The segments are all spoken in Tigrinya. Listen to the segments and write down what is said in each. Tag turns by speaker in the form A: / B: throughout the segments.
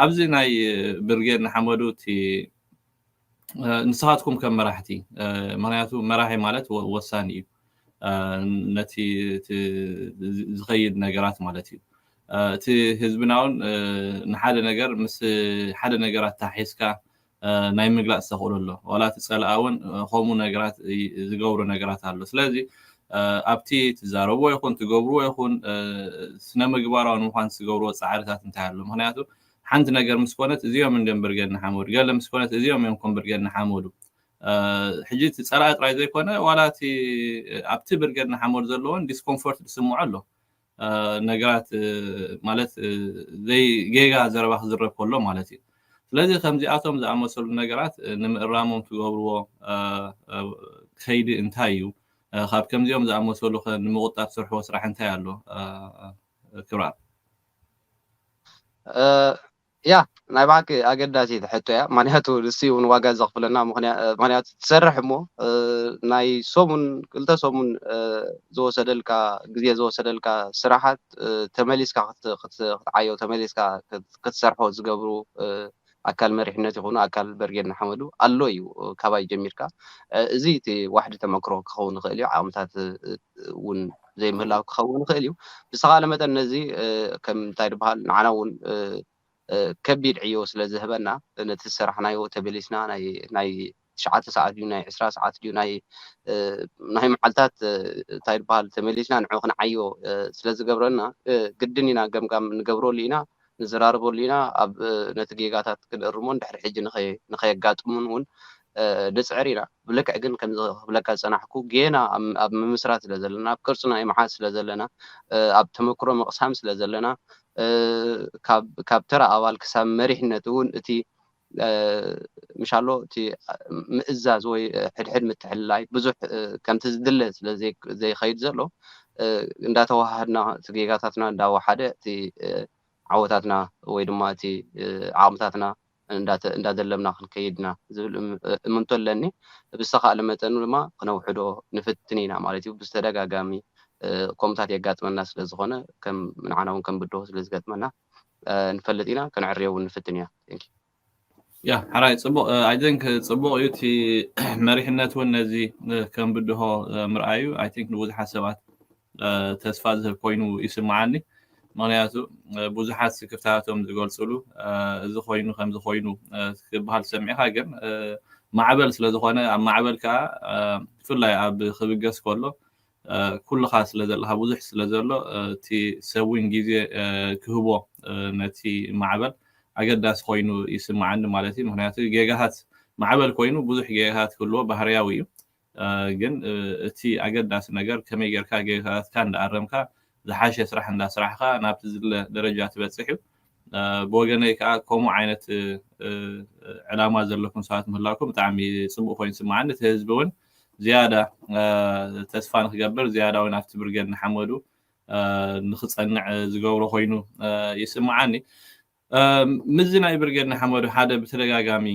A: ኣብዚ ናይ ብርጌድ ንሓመዱ እቲ ንስኻትኩም ከም መራሕቲ ምክንያቱ መራሒ ማለት ወሳኒ እዩ ነቲ ዝኸይድ ነገራት ማለት እዩ እቲ ህዝብና እውን ንሓደ ነገር ምስ ሓደ ነገራት ታሒዝካ ናይ ምግላጽ ተኽእሎ ኣሎ ዋላ እቲ ጸላኣ ውን ከምኡ ነገራት ዝገብሮ ነገራት ኣሎ ስለዚ ኣብቲ ትዛረብዎ ይኹን ትገብርዎ ይኹን ስነ ምግባራዊ ንምዃን ትገብርዎ ጻዕርታት እንታይ ኣሎ ምኽንያቱ ሓንቲ ነገር ምስ ኮነት እዚኦም እንድዮም ብርጌድ ንሓመዱ ገለ ምስ ኮነት እዚኦም እዮም ከም ብርጌድ ንሓመዱ ሕጂ እቲ ጸላኢ ጥራይ ዘይኮነ ዋላ እቲ ኣብቲ ብርጌድ ንሓመዱ ዘለዎን ዲስኮምፎርት ዝስምዖ ኣሎ ነገራት ማለት ጌጋ ዘረባ ክዝረብ ከሎ ማለት እዩ ስለዚ ከምዚኣቶም ዝኣመሰሉ ነገራት ንምእራሞም ትገብርዎ ከይዲ እንታይ እዩ ካብ ከምዚኦም ዝኣመሰሉ ከ ንምቁጣብ ትሰርሕዎ ስራሕ እንታይ ኣሎ ክብራት
B: እያ ናይ ብሓቂ ኣገዳሲት ሕቶ እያ ምክንያቱ ንሱ እዩ ውን ዋጋ ዘኽፍለና ምክንያቱ ትሰርሕ እሞ ናይ ሰሙን ክልተ ሰሙን ዝወሰደልካ ግዜ ዝወሰደልካ ስራሓት ተመሊስካ ክትዓዮ ተመሊስካ ክትሰርሖ ዝገብሩ ኣካል መሪሕነት ይኹኑ ኣካል በርጌድ ንሓመዱ ኣሎ እዩ ካባይ ጀሚርካ እዚ እቲ ዋሕዲ ተመክሮ ክኸውን ይኽእል እዩ ዓቕምታት እውን ዘይምህላው ክኸውን ይኽእል እዩ። ብዝተኻለ መጠን ነዚ ከም እንታይ ድበሃል ንዓና እውን ከቢድ ዕዮ ስለ ዝህበና ነቲ ዝሰራሕናዮ ተበሊስና ናይ ናይ ትሽዓተ ሰዓት ድዩ ናይ ዕስራ ሰዓት ድዩ ናይ ናይ መዓልታት እንታይ ድበሃል ተመሊስና ንዑ ክንዓዮ ስለ ዝገብረና ግድን ኢና ገምጋም ንገብረሉ ኢና። ንዘራርበሉ ኢና ኣብ ነቲ ጌጋታት ክንእርሞን ድሕሪ ሕጂ ንኸየጋጥሙን ውን ንጽዕር ኢና ብልክዕ ግን ከምዚ ክብለካ ዝጸናሕኩ ጌና ኣብ ምምስራት ስለ ዘለና ኣብ ቅርጺ ናይ ምሓዝ ስለ ዘለና ኣብ ተመክሮ ምቕሳም ስለ ዘለና ካብ ተራ ኣባል ክሳብ መሪሕነት ውን እቲ ምሻሎ እቲ ምእዛዝ ወይ ሕድሕድ ምትሕልላይ ብዙሕ ከምቲ ዝድለ ስለ ዘይከይድ ዘሎ እንዳተወሃሃድና እቲ ጌጋታትና እንዳወሓደ እቲ ዓወታትና ወይ ድማ እቲ ዓቕምታትና እንዳደለብና ክንከይድ ኢና ዝብል እምንቶ ኣለኒ። ብዝተኻእለ መጠን ድማ ክነውሕዶ ንፍትን ኢና ማለት እዩ። ብዝተደጋጋሚ ከምኡታት የጋጥመና ስለ ዝኾነ ከም ንዓና እውን ከም ብድሆ ስለ ዝገጥመና። ንፈልጥ ኢና ከነዕርዮ ውን ንፍትን ኢና thank you።
A: ያ ሓራይ ጽቡቅ ኣይ ቲንክ ጽቡቅ እዩ እቲ መሪሕነት እውን ነዚ ከም ብድሆ ምርኣዩ ኣይ ቲንክ ንብዙሓት ሰባት ተስፋ ዝህብ ኮይኑ ይስምዓኒ ምክንያቱ ብዙሓት ስክፍታቶም ዝገልጽሉ እዚ ኮይኑ ከምዚ ኮይኑ ክበሃል ሰሚዕካ ግን ማዕበል ስለ ዝኾነ ኣብ ማዕበል ከዓ ብፍላይ ኣብ ክብገስ ከሎ ኩልኻ ስለ ዘለኻ ብዙሕ ስለ ዘሎ እቲ ሰብ ውን ግዜ ክህቦ ነቲ ማዕበል ኣገዳሲ ኮይኑ ይስምዓኒ ማለት እዩ ምኽንያቱ ጌጋታት ማዕበል ኮይኑ ብዙሕ ጌጋታት ክህልዎ ባህርያዊ እዩ ግን እቲ ኣገዳሲ ነገር ከመይ ጌርካ ጌጋታትካ እንዳኣረምካ ዝሓሸ ስራሕ እንዳስራሕኻ ናብቲ ዝድለ ደረጃ ትበጽሕ እዩ ብወገነይ ከኣ ከምኡ ዓይነት ዕላማ ዘለኩም ሰባት ምህላውኩም ብጣዕሚ ጽቡቅ ኮይኑ ይስምዓኒ እቲ ህዝቢ ውን ዝያዳ ተስፋ ንክገብር ዝያዳ እውን ኣብቲ ብርጌድ ንሓመዱ ንክፀንዕ ዝገብሮ ኮይኑ ይስምዓኒ ምዚ ናይ ብርጌድ ንሓመዱ ሓደ ብተደጋጋሚ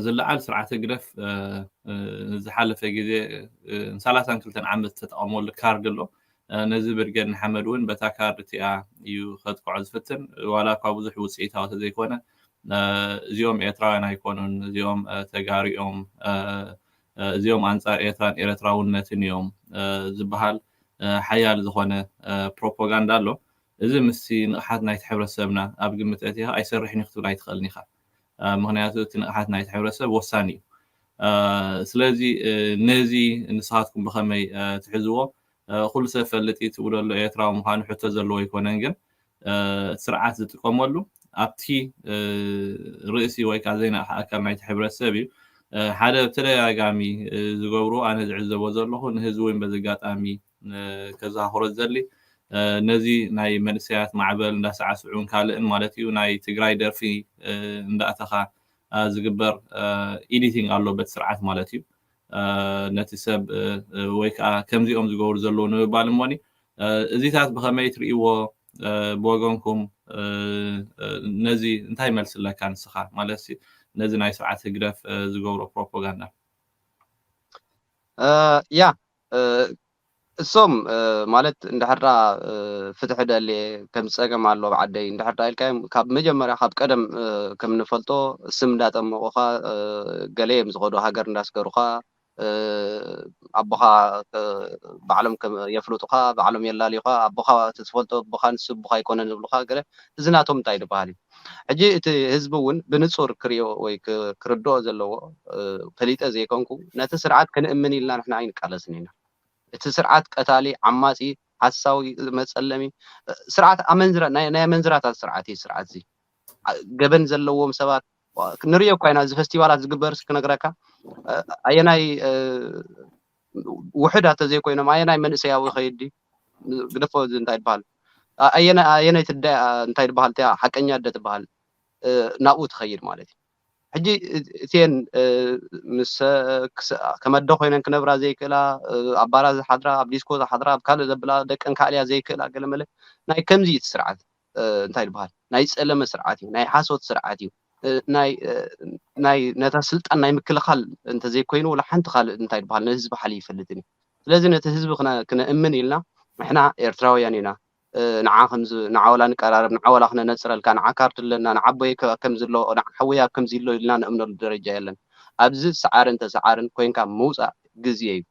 A: ዝለዓል ስርዓት ህግደፍ ዝሓለፈ ግዜ ሰላሳን ክልተን ዓመት ዝተጠቐመሉ ካርድ ኣሎ ነዚ ብርጌድ ንሓመድ ውን በታ ካርድ እቲኣ እዩ ከጥቅዖ ዝፍትን ዋላኳ ብዙሕ ውጽኢታዊ ተዘይኮነ እዚኦም ኤርትራውያን ኣይኮኑን እዚኦም ተጋሩ እዮም እዚኦም ኣንጻር ኤርትራን ኤረትራውነትን እዮም ዝበሃል ሓያል ዝኾነ ፕሮፖጋንዳ ኣሎ እዚ ምስቲ ንቕሓት ናይቲ ሕብረተሰብና ኣብ ግምት ኣእቲኻ ኣይሰርሕን እዩ ክትብል ኣይትኽእልን ኢኻ ምኽንያቱ እቲ ንቕሓት ናይቲ ሕብረተሰብ ወሳኒ እዩ ስለዚ ነዚ ንስኻትኩም ብኸመይ ትሕዝዎ ኩሉ ሰብ ይፈልጥ እዩ ትብሎ ኣሎ ኤርትራዊ ምዃኑ ሕቶ ዘለዎ ኣይኮነን ግን እቲ ስርዓት ዝጥቀመሉ ኣብቲ ርእሲ ወይ ከዓ ዘይነቕሐ ኣካል ናይቲ ሕብረተሰብ እዩ ሓደ ብተደጋጋሚ ዝገብሩ ኣነ ዝዕዘቦ ዘለኹ ንህዝቢ እውን በዚ ኣጋጣሚ ከዘኻኽሮ ዝደሊ ነዚ ናይ መንእሰያት ማዕበል እንዳሳዕስዑን ካልእን ማለት እዩ ናይ ትግራይ ደርፊ እንዳእተኻ ዝግበር ኤዲቲንግ ኣሎ በቲ ስርዓት ማለት እዩ ነቲ ሰብ ወይ ከኣ ከምዚኦም ዝገብሩ ዘለዉ ንምባል እሞኒ እዚታት ብኸመይ ትርእይዎ ብወገንኩም ነዚ እንታይ መልሲ ኣለካ ንስኻ ማለትሲ ነዚ ናይ ስርዓት ህግደፍ ዝገብሮ ፕሮፖጋንዳ? ያ
B: እሶም ማለት እንድሕር ደኣ ፍትሒ ደልየ ከምዚ ጸገም ኣሎ ኣብ ዓደይ እንድሕር ደኣ ኢልካዮም ካብ መጀመርያ ካብ ቀደም ከም እንፈልጦ ስም እንዳጠመቑኻ ገለ እዮም ዝኸዱ ሃገር እንዳስገሩኻ ኣቦኻ ባዕሎም የፍልጡኻ ባዕሎም የላልዩኻ ኣቦኻ እቲ ትፈልጦ ኣቦኻ ንሱ ኣቦኻ ኣይኮነን ዝብሉኻ ገለ እዚ ናቶም እንታይ ድበሃል እዩ? ሕጂ እቲ ህዝቢ እውን ብንጹር ክርእዮ ወይ ክርድኦ ዘለዎ ፈሊጠ ዘይኮንኩ ነቲ ስርዓት ክንእምን ኢልና ንሕና ኣይንቃለስን ኢና እቲ ስርዓት ቀታሊ ዓማጺ ሓሳዊ መጸለሚ ስርዓት ኣመንዝራ ናይ ናይ ኣመንዝራታት ስርዓት እዩ ስርዓት እዚ ገበን ዘለዎም ሰባት ንርእዮ እኳ ኢና እዚ ፈስቲቫላት ዝግበርስ ክነግረካ ኣየናይ ውሑዳት ተዘይኮይኖም ኣየናይ መንእሰያዊ ይኸይድ ድዩ? ግደፎ እዚ እንታይ ድበሃል ኣየነይቲ ኣደ እንታይ ድበሃል እቲኣ ሓቀኛ ኣደ ትበሃል ናብኡ ትኸይድ ማለት እዩ። ሕጂ እቲኤን ምስ ከም ኣደ ኮይነን ክነብራ ዘይክእላ ኣብ ባራት ዝሓድራ ኣብ ዲስኮ ዝሓድራ ኣብ ካልእ ዘብላ ደቀን ከዕልያ ዘይክእላ ገለመለ ናይ ከምዚ እዩ እቲ ስርዓት። እንታይ ድበሃል ናይ ዝጸለመ ስርዓት እዩ፣ ናይ ሓሶት ስርዓት እዩ፣ ናይ ነታ ስልጣን ናይ ምክልኻል እንተዘይኮይኑ ወላ ሓንቲ ካልእ እንታይ ድበሃል ንህዝቢ ሓልዩ ኣይፈልጥን እዩ። ስለዚ ነቲ ህዝቢ ክነእምን ኢልና ንሕና ኤርትራውያን ኢና ንዓ ከምዚ ንዓ ወላ ንቀራረብ ንዓ ወላ ክነነጽረልካ ንዓ ካርድ ኣለና ንዓ ኣቦይ ከምዚ ኣሎ ንዓ ሓወይ ኣብ ከምዚ ኣሎ ኢልና ንእምነሉ ደረጃ የለን። ኣብዚ ሰዓርን ተሰዓርን ኮንካ ምውጻእ ግዝየ እዩ።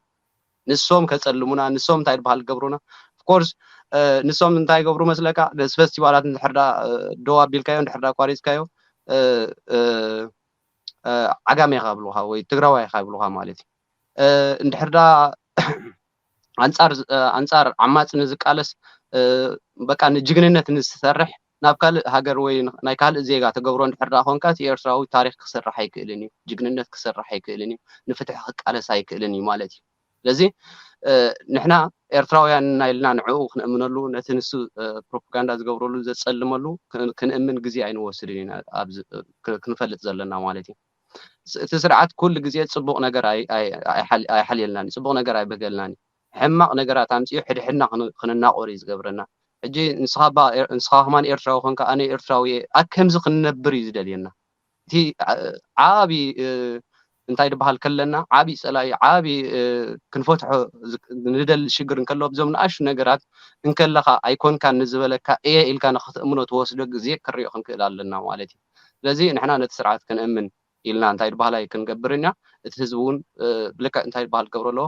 B: ንሶም ከጸልሙና ንሶም እንታይ ድበሃል ክገብሩና of course ንሶም እንታይ ይገብሩ መስለካ ነዚ ፈስቲቫላት እንድሕር ደኣ ደው ኣቢልካዮ እንድሕር ደኣ ኣቋሪጽካዮ ዓጋመ ኢኻ ይብሉኻ ወይ ትግራዋይ ኢኻ ይብሉኻ ማለት እዩ እንድሕር ደኣ ኣንጻር ኣንጻር ዓማጽ ንዝቃለስ በቃ ንጅግንነት ንዝሰርሕ ናብ ካልእ ሃገር ወይ ናይ ካልእ ዜጋ ተገብሮ እንድሕር ደኣ ኮንካ እቲ ኤርትራዊ ታሪኽ ክስርሕ ኣይክእልን እዩ፣ ጅግንነት ክስርሕ ኣይክእልን እዩ፣ ንፍትሒ ክቃለስ ኣይክእልን እዩ ማለት እዩ። ስለዚ ንሕና ኤርትራውያን እና ኢልና ንዕኡ ክንእምነሉ ነቲ ንሱ ፕሮፖጋንዳ ዝገብረሉ ዘጸልመሉ ክንእምን ግዜ ኣይንወስድን ኢና ኣብዚ ክንፈልጥ ዘለና ማለት እዩ። እቲ ስርዓት ኩሉ ግዜ ጽቡቕ ነገር ኣይሓልየልናን እዩ፣ ጽቡቕ ነገር ኣይብህገለናን እዩ። ሕማቅ ነገራት ኣምጺኡ ሕድሕድና ክንናቆር ኢዩ ዝገብረና ሕጂ ንስካ እባ ንስካ ከማን ኤርትራዊ ኮንካ ኣነ ኤርትራዊ ኢየ ኣብ ከምዚ ክንነብር ኢዩ ዝደልየና እቲ ዓቢ እንታይ ድበሃል ከለና ዓቢ ጸላኢ ዓቢ ክንፈትሖ ንደሊ ሽግር እንከሎ ኣብዞም ንኣሽቱ ነገራት እንከለካ ኣይኮንካን ንዝበለካ ኢየ ኢልካ ንክትእምኖ ትወስዶ ግዜ ክንሪኦ ክንክእል ኣለና ማለት ኢዩ ስለዚ ንሕና ነቲ ስርዓት ክንእምን ኢልና እንታይ ድባሃላይ ክንገብር እና እቲ ህዝቢ ውን ብልክዕ እንታይ ድባሃል ክገብሮ ኣለዎ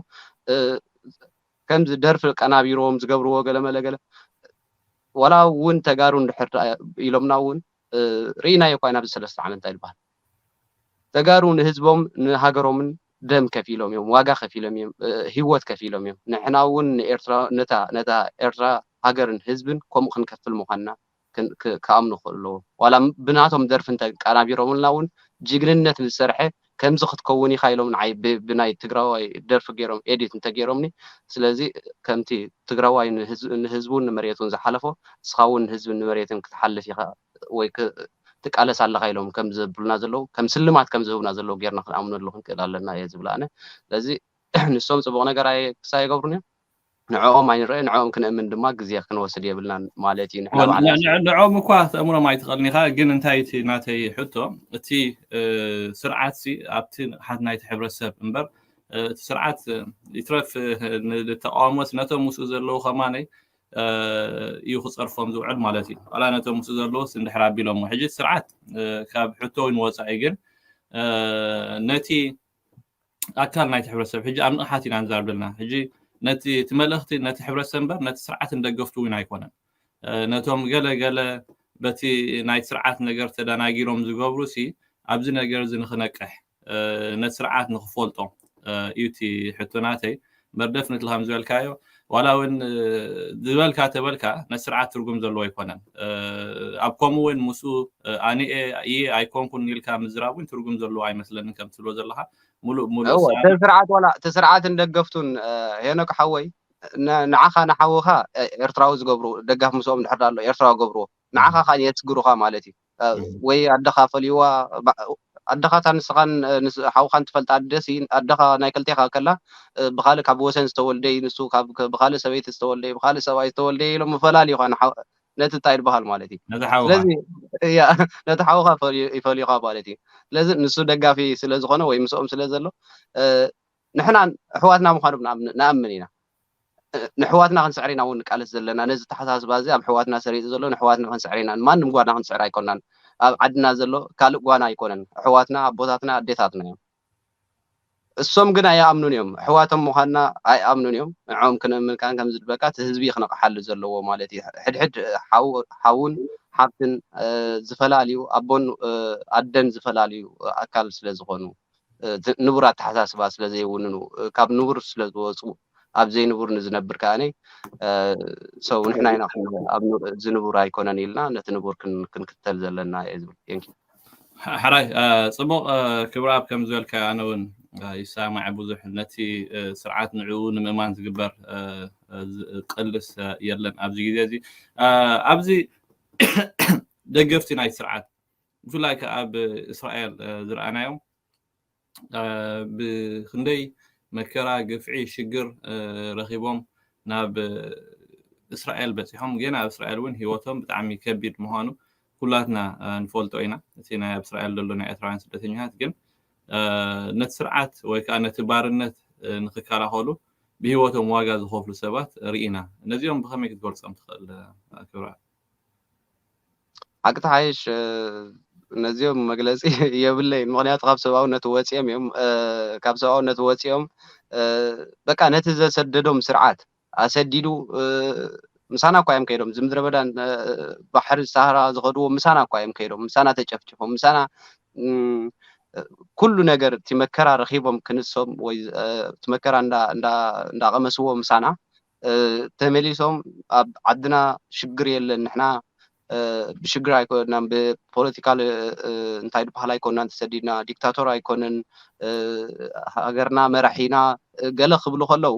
B: ከምዚ ደርፊ ኣቀናቢሮም ዝገብርዎ ገለ መለ ገለ ዋላ ውን ተጋሩ እንድሕር ደኣ ኢሎምና ውን ርኢናዮ እኳ ኢና ኣብዚ ሰለስተ ዓመት እንታይ ድባሃል ተጋሩ ንህዝቦም ንሃገሮምን ደም ከፊሎም እዮም ዋጋ ከፊሎም እዮም ሂወት ከፊሎም እዮም ንሕና ውን ንኤርትራ ነታ ነታ ኤርትራ ሃገርን ህዝብን ከምኡ ክንከፍል ምዃንና ክኣምኑ ክኽእሉ ኣለዎም ዋላ ብናቶም ደርፊ እንተ ኣቃናቢሮምልና ውን ጅግንነት ዝሰርሐ ከምዚ ክትከውን ኢኻ ኢሎም ንዓይ ብናይ ትግራዋይ ደርፊ ጌሮም ኤዲት እንተ ጌሮምኒ ስለዚ ከምቲ ትግራዋይ ንህዝቡን ንመሬቱን ዝሓለፎ ንስኻ ውን ንህዝብን ንመሬትን ክትሓልፍ ኢኻ ወይ ትቃለስ ኣለኻ ኢሎም ከም ዘብሉና ዘለዉ ከም ስልማት ከም ዝህቡና ዘለዉ ጌርና ክንኣምነሉ ክንክእል ኣለና እየ ዝብል ኣነ ስለዚ ንሶም ጽቡቕ ነገር ኣይክሳ ኣይገብሩን እዮም ንዕኦም ኣይንርእ ንዕኦም ክንእምን ድማ ግዜ ክንወስድ የብልናን ማለት እዩ ንሕና ባዕልና ንዕኦም እኳ
A: ተእምሮም ኣይትኽእልን ኢኻ ግን እንታይ እቲ ናተይ ሕቶ እቲ ስርዓት ሲ ኣብቲ ንቕሓት ናይቲ ሕብረተሰብ እምበር እቲ ስርዓት ይትረፍ ንተቃውሞስ ነቶም ምስኡ ዘለዉ ከማነይ እዩ ክፀርፎም ዝውዕል ማለት እዩ ዋላ ነቶም ምስኡ ዘለዉስ እንድሕር ኣቢሎሞ ሕጂ ስርዓት ካብ ሕቶውን ወፃኢ ግን ነቲ ኣካል ናይቲ ሕብረተሰብ ሕጂ ኣብ ንቕሓት ኢና ንዛረብ ዘለና ሕጂ ነቲ እቲ መልእኽቲ ነቲ ሕብረተሰብ እምበር ነቲ ስርዓትን ደገፍቱ እውን ኣይኮነን ነቶም ገለ ገለ በቲ ናይ ስርዓት ነገር ተደናጊሮም ዝገብሩ ሲ ኣብዚ ነገር እዚ ንክነቅሕ ነቲ ስርዓት ንክፈልጦ እዩ እቲ ሕቶ ናተይ እምበር ደፍነትሊ ከም ዝበልካዮ ዋላ እውን ዝበልካ ተበልካ ነቲ ስርዓት ትርጉም ዘለዎ ኣይኮነን ኣብ ከምኡ እውን ምስኡ ኣነ እየ ኣይኮንኩን ኢልካ ምዝራብ እውን ትርጉም ዘለዎ ኣይመስለንን ከም ትብሎ ዘለካ ሙሉእ ሙሉእ እወ እቲ ስርዓት ዋላ እቲ
B: ስርዓትን ደገፍቱን እ፣ ሄኖክ ሓወይ ን- ንዓኻ ንሓውኻ እ፣ ኤርትራዊ ዝገብሩ ደጋፍ ምስኦም ድሕር ዳሎ ኤርትራዊ ገብርዎ ንዓኻ ከዓ የስግሩኻ ማለት እዩ ወይ ኣደኻ ፈልዩዋ ኣደኻ እታ ንስኻን ሓውኻን ትፈልጣ ኣደ ሲ ኣደኻ ናይ ክልቴኻ ከላ ብኻልእ ካብ ወሰን ዝተወልደ እዩ ንሱ ካብ ብኻልእ ሰበይቲ ዝተወልደ እዩ ብኻልእ ሰብኣይ ዝተወልደ እዩ ኢሎም ፈላልዩኻ ነቲ እንታይ ይበሃል ማለት እዩ ነቲ ሓውኻ ስለዚ ያ ነቲ ሓውኻ ፈልዩ- ይፈልዩኻ ማለት እዩ ስለዚ ንሱ ደጋፊ ስለ ዝኾነ ወይ ምስኦም ስለ ዘሎ እ፣ ንሕና ኣሕዋትና ምዃኖም ንኣምን ኢና። ንኣሕዋትና ክንስዕር ኢና እውን ንቃለስ ዘለና። ነዚ ኣተሓሳስባ እዚ ኣብ ኣሕዋትና ሰሪጹ ዘሎ ንኣሕዋትና ክንስዕር ኢና። ንማንም ጓና ክንስዕር ኣይኮናን። ኣብ ዓድና ዘሎ ካልእ ጓና ኣይኮነን። ኣሕዋትና ኣቦታትና ኣዴታትና እዮም። እሶም ግን ኣይኣምኑን እዮም። ኣሕዋቶም ምዃንና ኣይኣምኑን እዮም። ንዕኦም ክነምን ካን ከም ዝድበካ እቲ ህዝቢ ክነቕሓሉ ዘለዎ ማለት እዩ። ሕድሕድ ሓውን ሓብትን ዝፈላልዩ ኣቦን ኣደን ዝፈላልዩ ኣካል ስለ ዝኾኑ ንቡር ኣተሓሳስባ ስለ ዘይውንኑ ካብ ንቡር ስለ ዝወፁ ኣብ ዘይንቡር ንዝነብር ከዓኒ ሰው ንሕና ኢና ዝንቡር ኣይኮነን ኢልና ነቲ ንቡር ክንክተል ዘለና እየ ዝብል ቴንኪ ሕራይ
A: ፅቡቕ ክብረኣብ ከም ዝበልካዮ ኣነ እውን ይሰማዕ ብዙሕ ነቲ ስርዓት ንዕኡ ንምእማን ዝግበር ቅልስ የለን ኣብዚ ግዜ እዚ ኣብዚ ደገፍቲ ናይ ስርዓት ብፍላይ ከኣ ኣብ እስራኤል ዝረኣናዮ ብክንደይ መከራ ግፍዒ ሽግር ረኪቦም ናብ እስራኤል በጺሖም ጌና ኣብ እስራኤል ውን ሂወቶም ብጣዕሚ ከቢድ ምኳኑ ኩላትና ንፈልጦ ኢና እቲ ናይ ኣብ እስራኤል ዘሎ ናይ ኤርትራውያን ስደተኛታት ግን ነቲ ስርዓት ወይ ከዓ ነቲ ባርነት ንክከላኸሉ ብሂወቶም ዋጋ ዝኸፍሉ ሰባት ርኢና ነዚኦም ብኸመይ ክትገልጾም ትኽእል ክብራ
B: ሓቂ ትሓይሽ ነዚኦም መግለጺ የብለይን ምክንያቱ ካብ ሰብኣውነት ወጺኦም እዮም ካብ ሰብኣውነት ወጺኦም በቃ ነቲ ዘሰደዶም ስርዓት ኣሰዲዱ ምሳና እኳ እዮም ከይዶም ዝምድረ በዳን ባሕሪ ሳህራ ዝኸድዎ ምሳና እኳ እዮም ከይዶም ምሳና ተጨፍጭፎም ምሳና ኩሉ ነገር እቲ መከራ ረኺቦም ክንሶም ወይ እቲ መከራ እንዳቐመስዎ ምሳና ተመሊሶም ኣብ ዓድና ሽግር የለን ንሕና ብሽግር ኣይኮናን ብፖለቲካ እንታይ ድበሃል ኣይኮናን ተሰዲድና ዲክታቶር ኣይኮንን ሃገርና መራሒና ገለ ክብሉ ከለው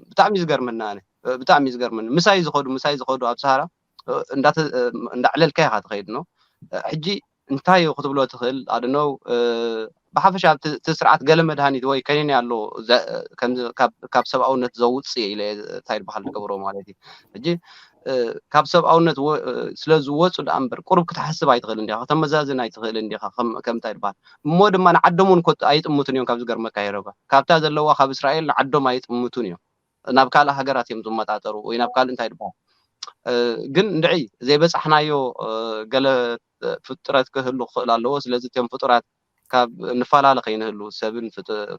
B: ብጣዕሚ ዝገርመና ኣነ ብጣዕሚ ዝገርመኒ ምሳይ ዝኸዱ ምሳይ ዝኸዱ ኣብ ሰሃራ እንዳዕለልካ ኢኻ ትኸይድ ኖ ሕጂ እንታይ እዩ ክትብሎ ትኽእል ኣዶኖው ብሓፈሻ ኣብቲ ስርዓት ገለ መድሃኒት ወይ ከኒኒ ኣሎ ካብ ሰብኣውነት ዘውጽእ እየ ኢለ እንታይ ድበሃል ዝገብሮ ማለት እዩ ሕጂ ካብ ሰብኣውነት ስለ ዝወጹ ደኣ እምበር ቁሩብ ክትሓስብ ኣይትኽእልን ዲኻ ከተመዛዝን ኣይትኽእልን ዲኻ ከም እንታይ ድበሃል እሞ ድማ ንዓዶም እውን ኣይጥምቱን እዮም ካብ ዝገርመካ ይረባ ካብታ ዘለዋ ካብ እስራኤል ንዓዶም ኣይጥምቱን እዮም ናብ ካልእ ሃገራት እዮም ዝመጣጠሩ ወይ ናብ ካልእ እንታይ ድበሃል ግን እንድዒ ዘይበጻሕናዮ ገለ ፍጥረት ክህሉ ክኽእል ኣለዎ ስለዚ እትዮም ፍጡራት ካብ ንፋላለ ከይንህሉ ሰብን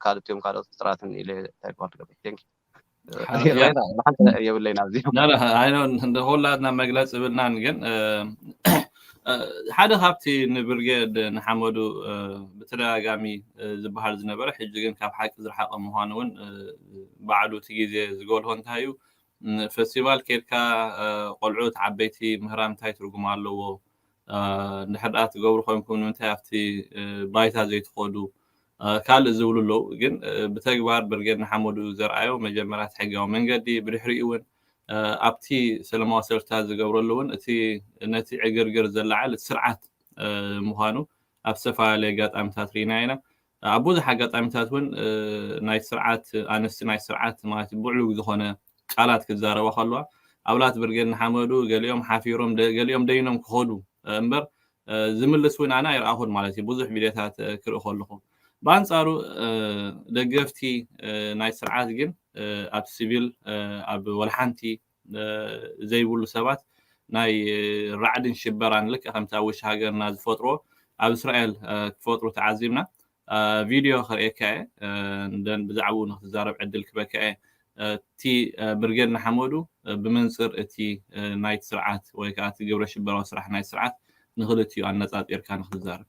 B: ካልእ እትዮም ካልኦት ፍጥራትን ኢለ ታይፖ ትገብር ቴንኪ የብለይን ኣብዚ
A: ኩላትና መግለፂ ብልናን ግን ሓደ ካብቲ ንብርጌድ ንሓመዱ ብተደጋጋሚ ዝበሃል ዝነበረ ሕጂ ግን ካብ ሓቂ ዝረሓቐ ምዃኑ እውን ባዕሉ እቲ ግዜ ዝጎልሆ እንታይ እዩ ፈስቲቫል ኬድካ ቆልዑት ዓበይቲ ምህራም እንታይ ትርጉም ኣለዎ እንድሕር ደኣ ትገብሩ ኮንኩም ንምንታይ ኣብቲ ባይታ ዘይትኸዱ ካልእ ዝብሉ ኣለዉ ግን ብተግባር ብርጌድ ንሓመዱ ዘርኣዮ መጀመርያ እቲ ሕጋዊ መንገዲ ብድሕሪኡ እውን ኣብቲ ሰለማዊ ሰልፍታት ዝገብረሉ እውን እቲ ነቲ ዕግርግር ዘላዓል እቲ ስርዓት ምዃኑ ኣብ ዝተፈላለየ ኣጋጣሚታት ርኢና ኢና። ኣብ ብዙሕ ኣጋጣሚታት እውን ናይ ስርዓት ኣንስቲ ናይ ስርዓት ማለት ብዕሉግ ዝኾነ ቃላት ክዛረባ ከለዋ ኣብላት ብርጌድ ንሓመዱ ገሊኦም ሓፊሮም ገሊኦም ደይኖም ክኸዱ እምበር ዝምልስ እውን ኣነ ኣይረኣኹን ማለት እዩ ብዙሕ ቪድዮታት ክርኢ ከለኹ ብኣንጻሩ ደገፍቲ ናይ ስርዓት ግን ኣብ ሲቪል ኣብ ወልሓንቲ ዘይብሉ ሰባት ናይ ራዕድን ሽበራን ልክዕ ከምቲ ኣብ ውሽጢ ሃገርና ዝፈጥርዎ ኣብ እስራኤል ክፈጥሩ ተዓዚብና ቪድዮ ከርእየካ እየ ደን ብዛዕባኡ ንክትዛረብ ዕድል ክበካ እየ እቲ ብርጌድ ንሓመዱ ብመንፅር እቲ ናይቲ ስርዓት ወይ ከዓ እቲ ግብረ ሽበራዊ ስራሕ ናይ ስርዓት ንክልቲኡ ኣነፃፂርካ ንክትዛረብ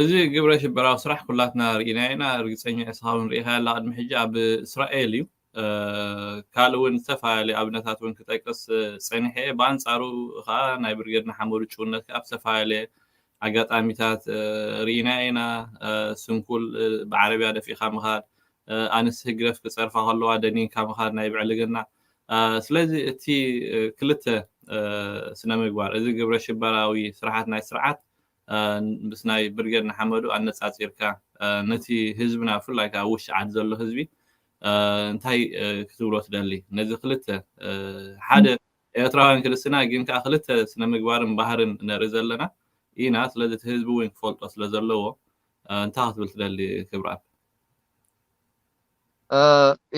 A: እዚ ግብረ ሽበራዊ ስራሕ ኩላትና ርኢና ኢና ርግፀኛ እስኻ እውን ርኢኻ ኣላ ቅድሚ ሕጂ ኣብ እስራኤል እዩ ካልእ እውን ዝተፈላለዩ ኣብነታት እውን ክጠቅስ ፀኒሐ እየ ብኣንፃሩ ከዓ ናይ ብርጌድ ንሓመዱ ጭውነት ከዓ ብዝተፈላለየ ኣጋጣሚታት ርኢና ኢና፣ ስንኩል ብዓረብያ ደፊእካ ምኻድ፣ ኣንስቲ ህግደፍ ክጸርፋ ከለዋ ደኒንካ ምኻድ ናይ ብዕልግና፣ ስለዚ እቲ ክልተ ስነምግባር እዚ ግብረሽበራዊ ስርሓት ናይ ስርዓት ምስ ናይ ብርጌድ ንሓመዱ ኣነጻጺርካ ነቲ ህዝብና ብፍላይ ከኣ ኣብ ውሽጢ ዓዲ ዘሎ ህዝቢ እንታይ ክትብሎ ትደሊ ነዚ ክልተ ሓደ ኤርትራውያን ክልስና ግን ከኣ ክልተ ስነምግባርን ባህርን ነርኢ ዘለና ኢና ስለዚ እቲ ህዝቢ ውን ክፈልጦ ስለ ዘለዎ እንታይ ክትብል ትደሊ ክብራኣብ።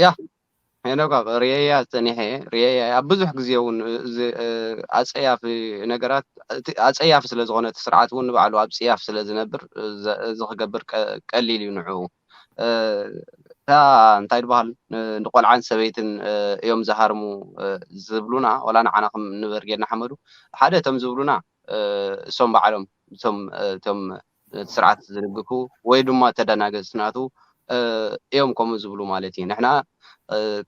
B: ያህ ሄኖጋ ርእየያ ጸኒሐ እየ ርእየያ ኣብ ብዙሕ ግዜ ውን እዚ ኣጸያፊ ነገራት እቲ ኣጸያፊ ስለ ዝኾነ እቲ ስርዓት ውን ንባዕሉ ኣብ ጽያፍ ስለ ዝነብር እዚ ክገብር ቀሊል እዩ ንዕኡ እታ እንታይ ድበሃል ንቆልዓን ሰበይትን እዮም ዝሃርሙ ዝብሉና ወላ ንዓና ከም ንበርጌድ ንሓመዱ ሓደ እቶም ዝብሉና እሶም ባዕሎም እቶም እቶም ነቲ ስርዓት ዝድግፉ ወይ ድማ ተደናገጽቲ ናቱ እዮም ከምኡ ዝብሉ ማለት እዩ ንሕና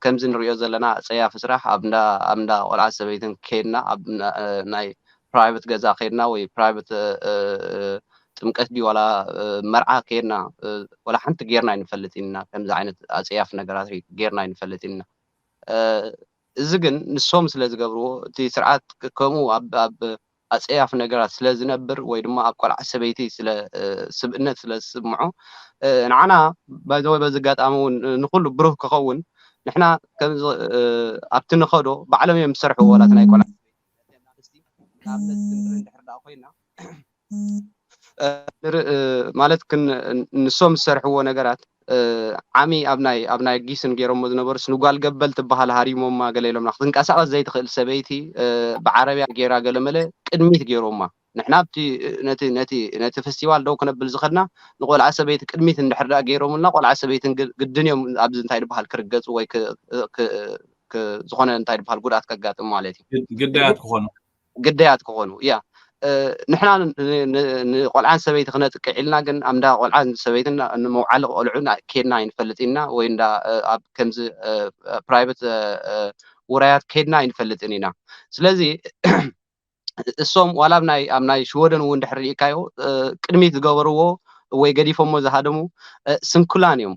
B: ከምዚ ንሪኦ ዘለና ጸያፊ ስራሕ ኣብ እንዳ ኣብ እንዳ ቆልዓን ሰበይትን ከይድና ኣብ ናይ ፕራይቨት ገዛ ከድና ወይ ፕራይቨት ጥምቀት ድዩ ዋላ መርዓ ከድና ዋላ ሓንቲ ጌርና ኣይንፈልጥን ኢና ከምዚ ዓይነት ኣፀያፊ ነገራት ጌርና ኣይንፈልጥን ኢና እዚ ግን ንሶም ስለ ዝገብርዎ እቲ ስርዓት ከምኡ ኣብ ኣፀያፊ ነገራት ስለ ዝነብር ወይ ድማ ኣብ ቆልዓ ሰበይቲ ስለ ስብእነት ስለ ዝስምዖ ንዓና ባይዘወይ በዚ ኣጋጣሚ እውን ንኩሉ ብሩህ ክኸውን ንሕና ከምዚ ኣብቲ ንኸዶ ባዕሎም እዮም ዝሰርሕዎ ዋላ ናይ ቆልዓ ነተን ኣርእስቲ ንኣብነት ክንርኢ እንድሕር ደኣ ኮይና ማለት ንሶም ዝሰርሕዎ ነገራት ዓሚ ኣብ ናይ ኣብ ናይ ጊስን ገይሮሞ ዝነበሩ ንጓል ገበል ትበሃል ሃሪሞማ ገለ ኢሎምና ክትንቀሳቐስ ዘይትኽእል ሰበይቲ ብዓረብያ ገይራ ገለመለ ቅድሚት ገይሮማ ንሕና ኣብቲ ነቲ ነቲ ነቲ ፈስቲቫል ደው ክነብል ዝኸድና ንቆልዓ ሰበይቲ ቅድሚት እንድሕር ድኣ ገይሮሙልና ቆልዓ ሰበይትን ግን ግድን እዮም ኣብዚ እንታይ ድብሃል ክርገጹ ወይ ክ ክ ክ ዝኾነ እንታይ ድብሃል ጉድኣት ከጋጥም ማለት እዩ ግድ- ግዳያት ክኾኑ ግዳያት ክኾኑ ያ እ፣ ንሕና ን- ን- ንቆልዓን ሰበይቲ ክነጥቅዕ ኢልና ግን ኣብ እንዳ ቆልዓን ሰበይትን ንመውዓሊ ቆልዑን ኣይ- ኬድና ኣይንፈልጥን ኢና ወይ እንዳ እ፣ ኣብ ከምዚ ፕራይቨት ውራያት ኬድና ኣይንፈልጥን ኢና ስለዚ እሶም ዋላ ኣብ ናይ ኣብ ናይ ሽወደን እውን ድሕር ርኢካዮ ቅድሚት ዝገበርዎ ወይ ገዲፎሞ ዝሃደሙ ስንኩላን እዮም።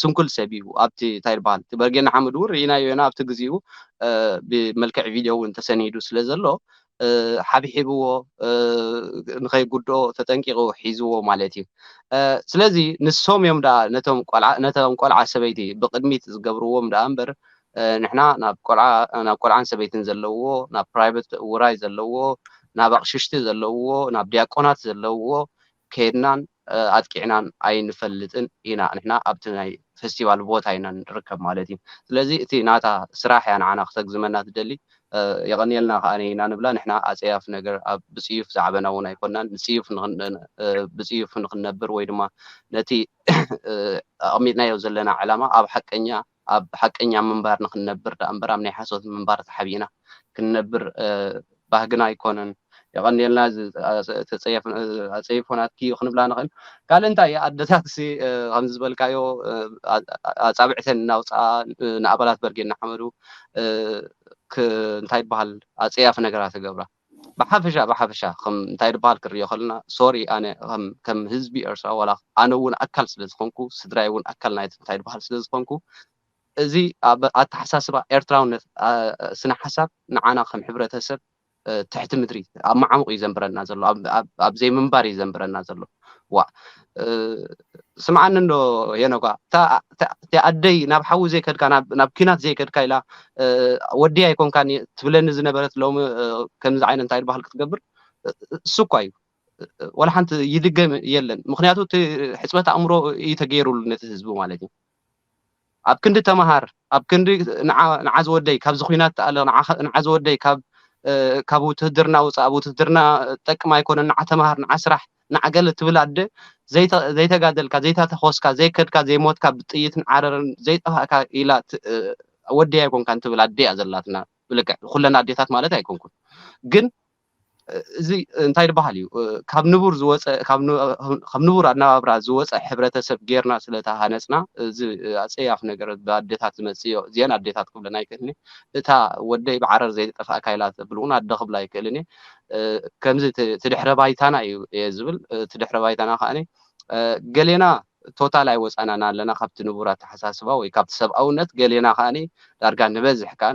B: ስንኩል ሰብ እዩ ኣብቲ እንታይ ይበሃል እቲ በርጌድ ንሓመዱ እውን ርኢናዮ ኢና ኣብቲ ግዚኡ ብመልክዕ ቪድዮ እውን ተሰኒዱ ስለ ዘሎ ሓብሒብዎ ንኸይጉድኦ ተጠንቂቑ ሒዝዎ ማለት እዩ። ስለዚ ንሶም እዮም ደኣ ነቶም ቆልዓ ነቶም ቆልዓ ሰበይቲ ብቕድሚት ዝገብርዎም ደኣ እምበር ንሕና ናብ ቆልዓ ናብ ቆልዓን ሰበይትን ዘለውዎ ናብ ፕራይበት ውራይ ዘለውዎ ናብ ኣቕሽሽቲ ዘለውዎ ናብ ድያቆናት ዘለውዎ ከድናን ኣጥቂዕናን ኣይንፈልጥን ኢና ንሕና ኣብቲ ናይ ፈስቲቫል ቦታ ኢና ንርከብ ማለት እዩ ስለዚ እቲ ናታ ስራሕ እያ ንዓና ክተግዝመና ትደሊ የቐንየልና ከኣ ኢና ንብላ ንሕና ኣጸያፊ ነገር ኣብ ብጽዩፍ ዝዓበና እውን ኣይኮናን ንጽዩፍ ብጽዩፍ ንኽንነብር ወይ ድማ ነቲ ኣቐሚጥናዮ ዘለና ዕላማ ኣብ ሓቀኛ ኣብ ሓቀኛ ምንባር ንኽንነብር ደኣምበር ኣብ ናይ ሓሶት ምንባር ተሓቢእና ክንነብር ባህግና ኣይኮነን። የቐንየልና እዚ ኣጸይፎ ናትኪ እዩ ክንብላ ንኽእል። ካልእ እንታይ እዩ ኣደታትሲ ከምዚ ዝበልካዮ ኣጻብዕተን እናውጽኣ ንኣባላት በርጌድ ንሓመዱ እንታይ ይበሃል ኣጸያፊ ነገራት ክገብራ። ብሓፈሻ ብሓፈሻ ከም እንታይ ድበሃል ክንሪኦ ከለና ሶሪ ኣነ ከም ህዝቢ ኤርትራ ዋላ ኣነ እውን ኣካል ስለ ዝኾንኩ ስድራይ እውን ኣካል ናይቲ እንታይ ድበሃል ስለ ዝኾንኩ እዚ ኣብ ኣተሓሳስባ ኤርትራውነት ስነ ሓሳብ ንዓና ከም ሕብረተሰብ ትሕቲ ምድሪ ኣብ መዓሙቕ እዩ ዘንብረና ዘሎ ኣብ ዘይምንባር እዩ ዘንብረና ዘሎ ዋእ ስምዓኒ እንዶ ሄኖጋ እቲ ኣደይ ናብ ሓዊ ዘይከድካ ናብ ኲናት ዘይከድካ ኢላ ወዲ ኣይኮንካን ትብለኒ ዝነበረት ሎሚ ከምዚ ዓይነት እንታይ ድባሃል ክትገብር እሱ እኳ እዩ ወላ ሓንቲ ይድገም የለን ምክንያቱ እቲ ሕፅበት ኣእምሮ እዩ ተገይሩሉ ነቲ ህዝቢ ማለት እዩ ኣብ ክንዲ ተማሃር ኣብ ክንዲ ንዓ ንዓ ዝወደይ ካብዚ ኩናት ተኣለ ንዓ ንዓ ዝወደይ ካብ ካብ ውትህድርና ውፃእ ኣብ ውትህድርና ጠቅም ኣይኮነን ንዓ ተማሃር ንዓ ስራሕ ንዓ ገለ ትብል ኣደ ዘይተጋደልካ ዘይታተኾስካ ዘይከድካ ዘይሞትካ ብጥይትን ዓረርን ዘይጠፋእካ ኢላ ወደይ ኣይኮንካን ትብል ኣደ እያ ዘላትና ብልክዕ ኩለን ኣዴታት ማለት ኣይኮንኩን ግን እዚ እንታይ ድበሃል እዩ ካብ ንቡር ዝወፀ ካብ ንቡር ኣነባብራ ዝወፀ ሕብረተሰብ ጌርና ስለተሃነፅና እዚ ኣፀያፊ ነገር ብኣዴታት ዝመፅእ እዮ እዚኤን ኣዴታት ክብለን ኣይክእልን እየ እታ ወደይ ብዓረር ዘይተጠፍኣካ ኢላ ተብል እውን ኣደ ክብላ ኣይክእልን እየ ከምዚ እቲ ድሕረ ባይታና እዩ እየ ዝብል እቲ ድሕረ ባይታና ከዓኒ ገሌና ቶታል ኣይወጻናን ኣለና ካብቲ ንቡር ኣተሓሳስባ ወይ ካብቲ ሰብኣውነት ገሌና ከኣ ዳርጋ ንበዝሕ ከኣ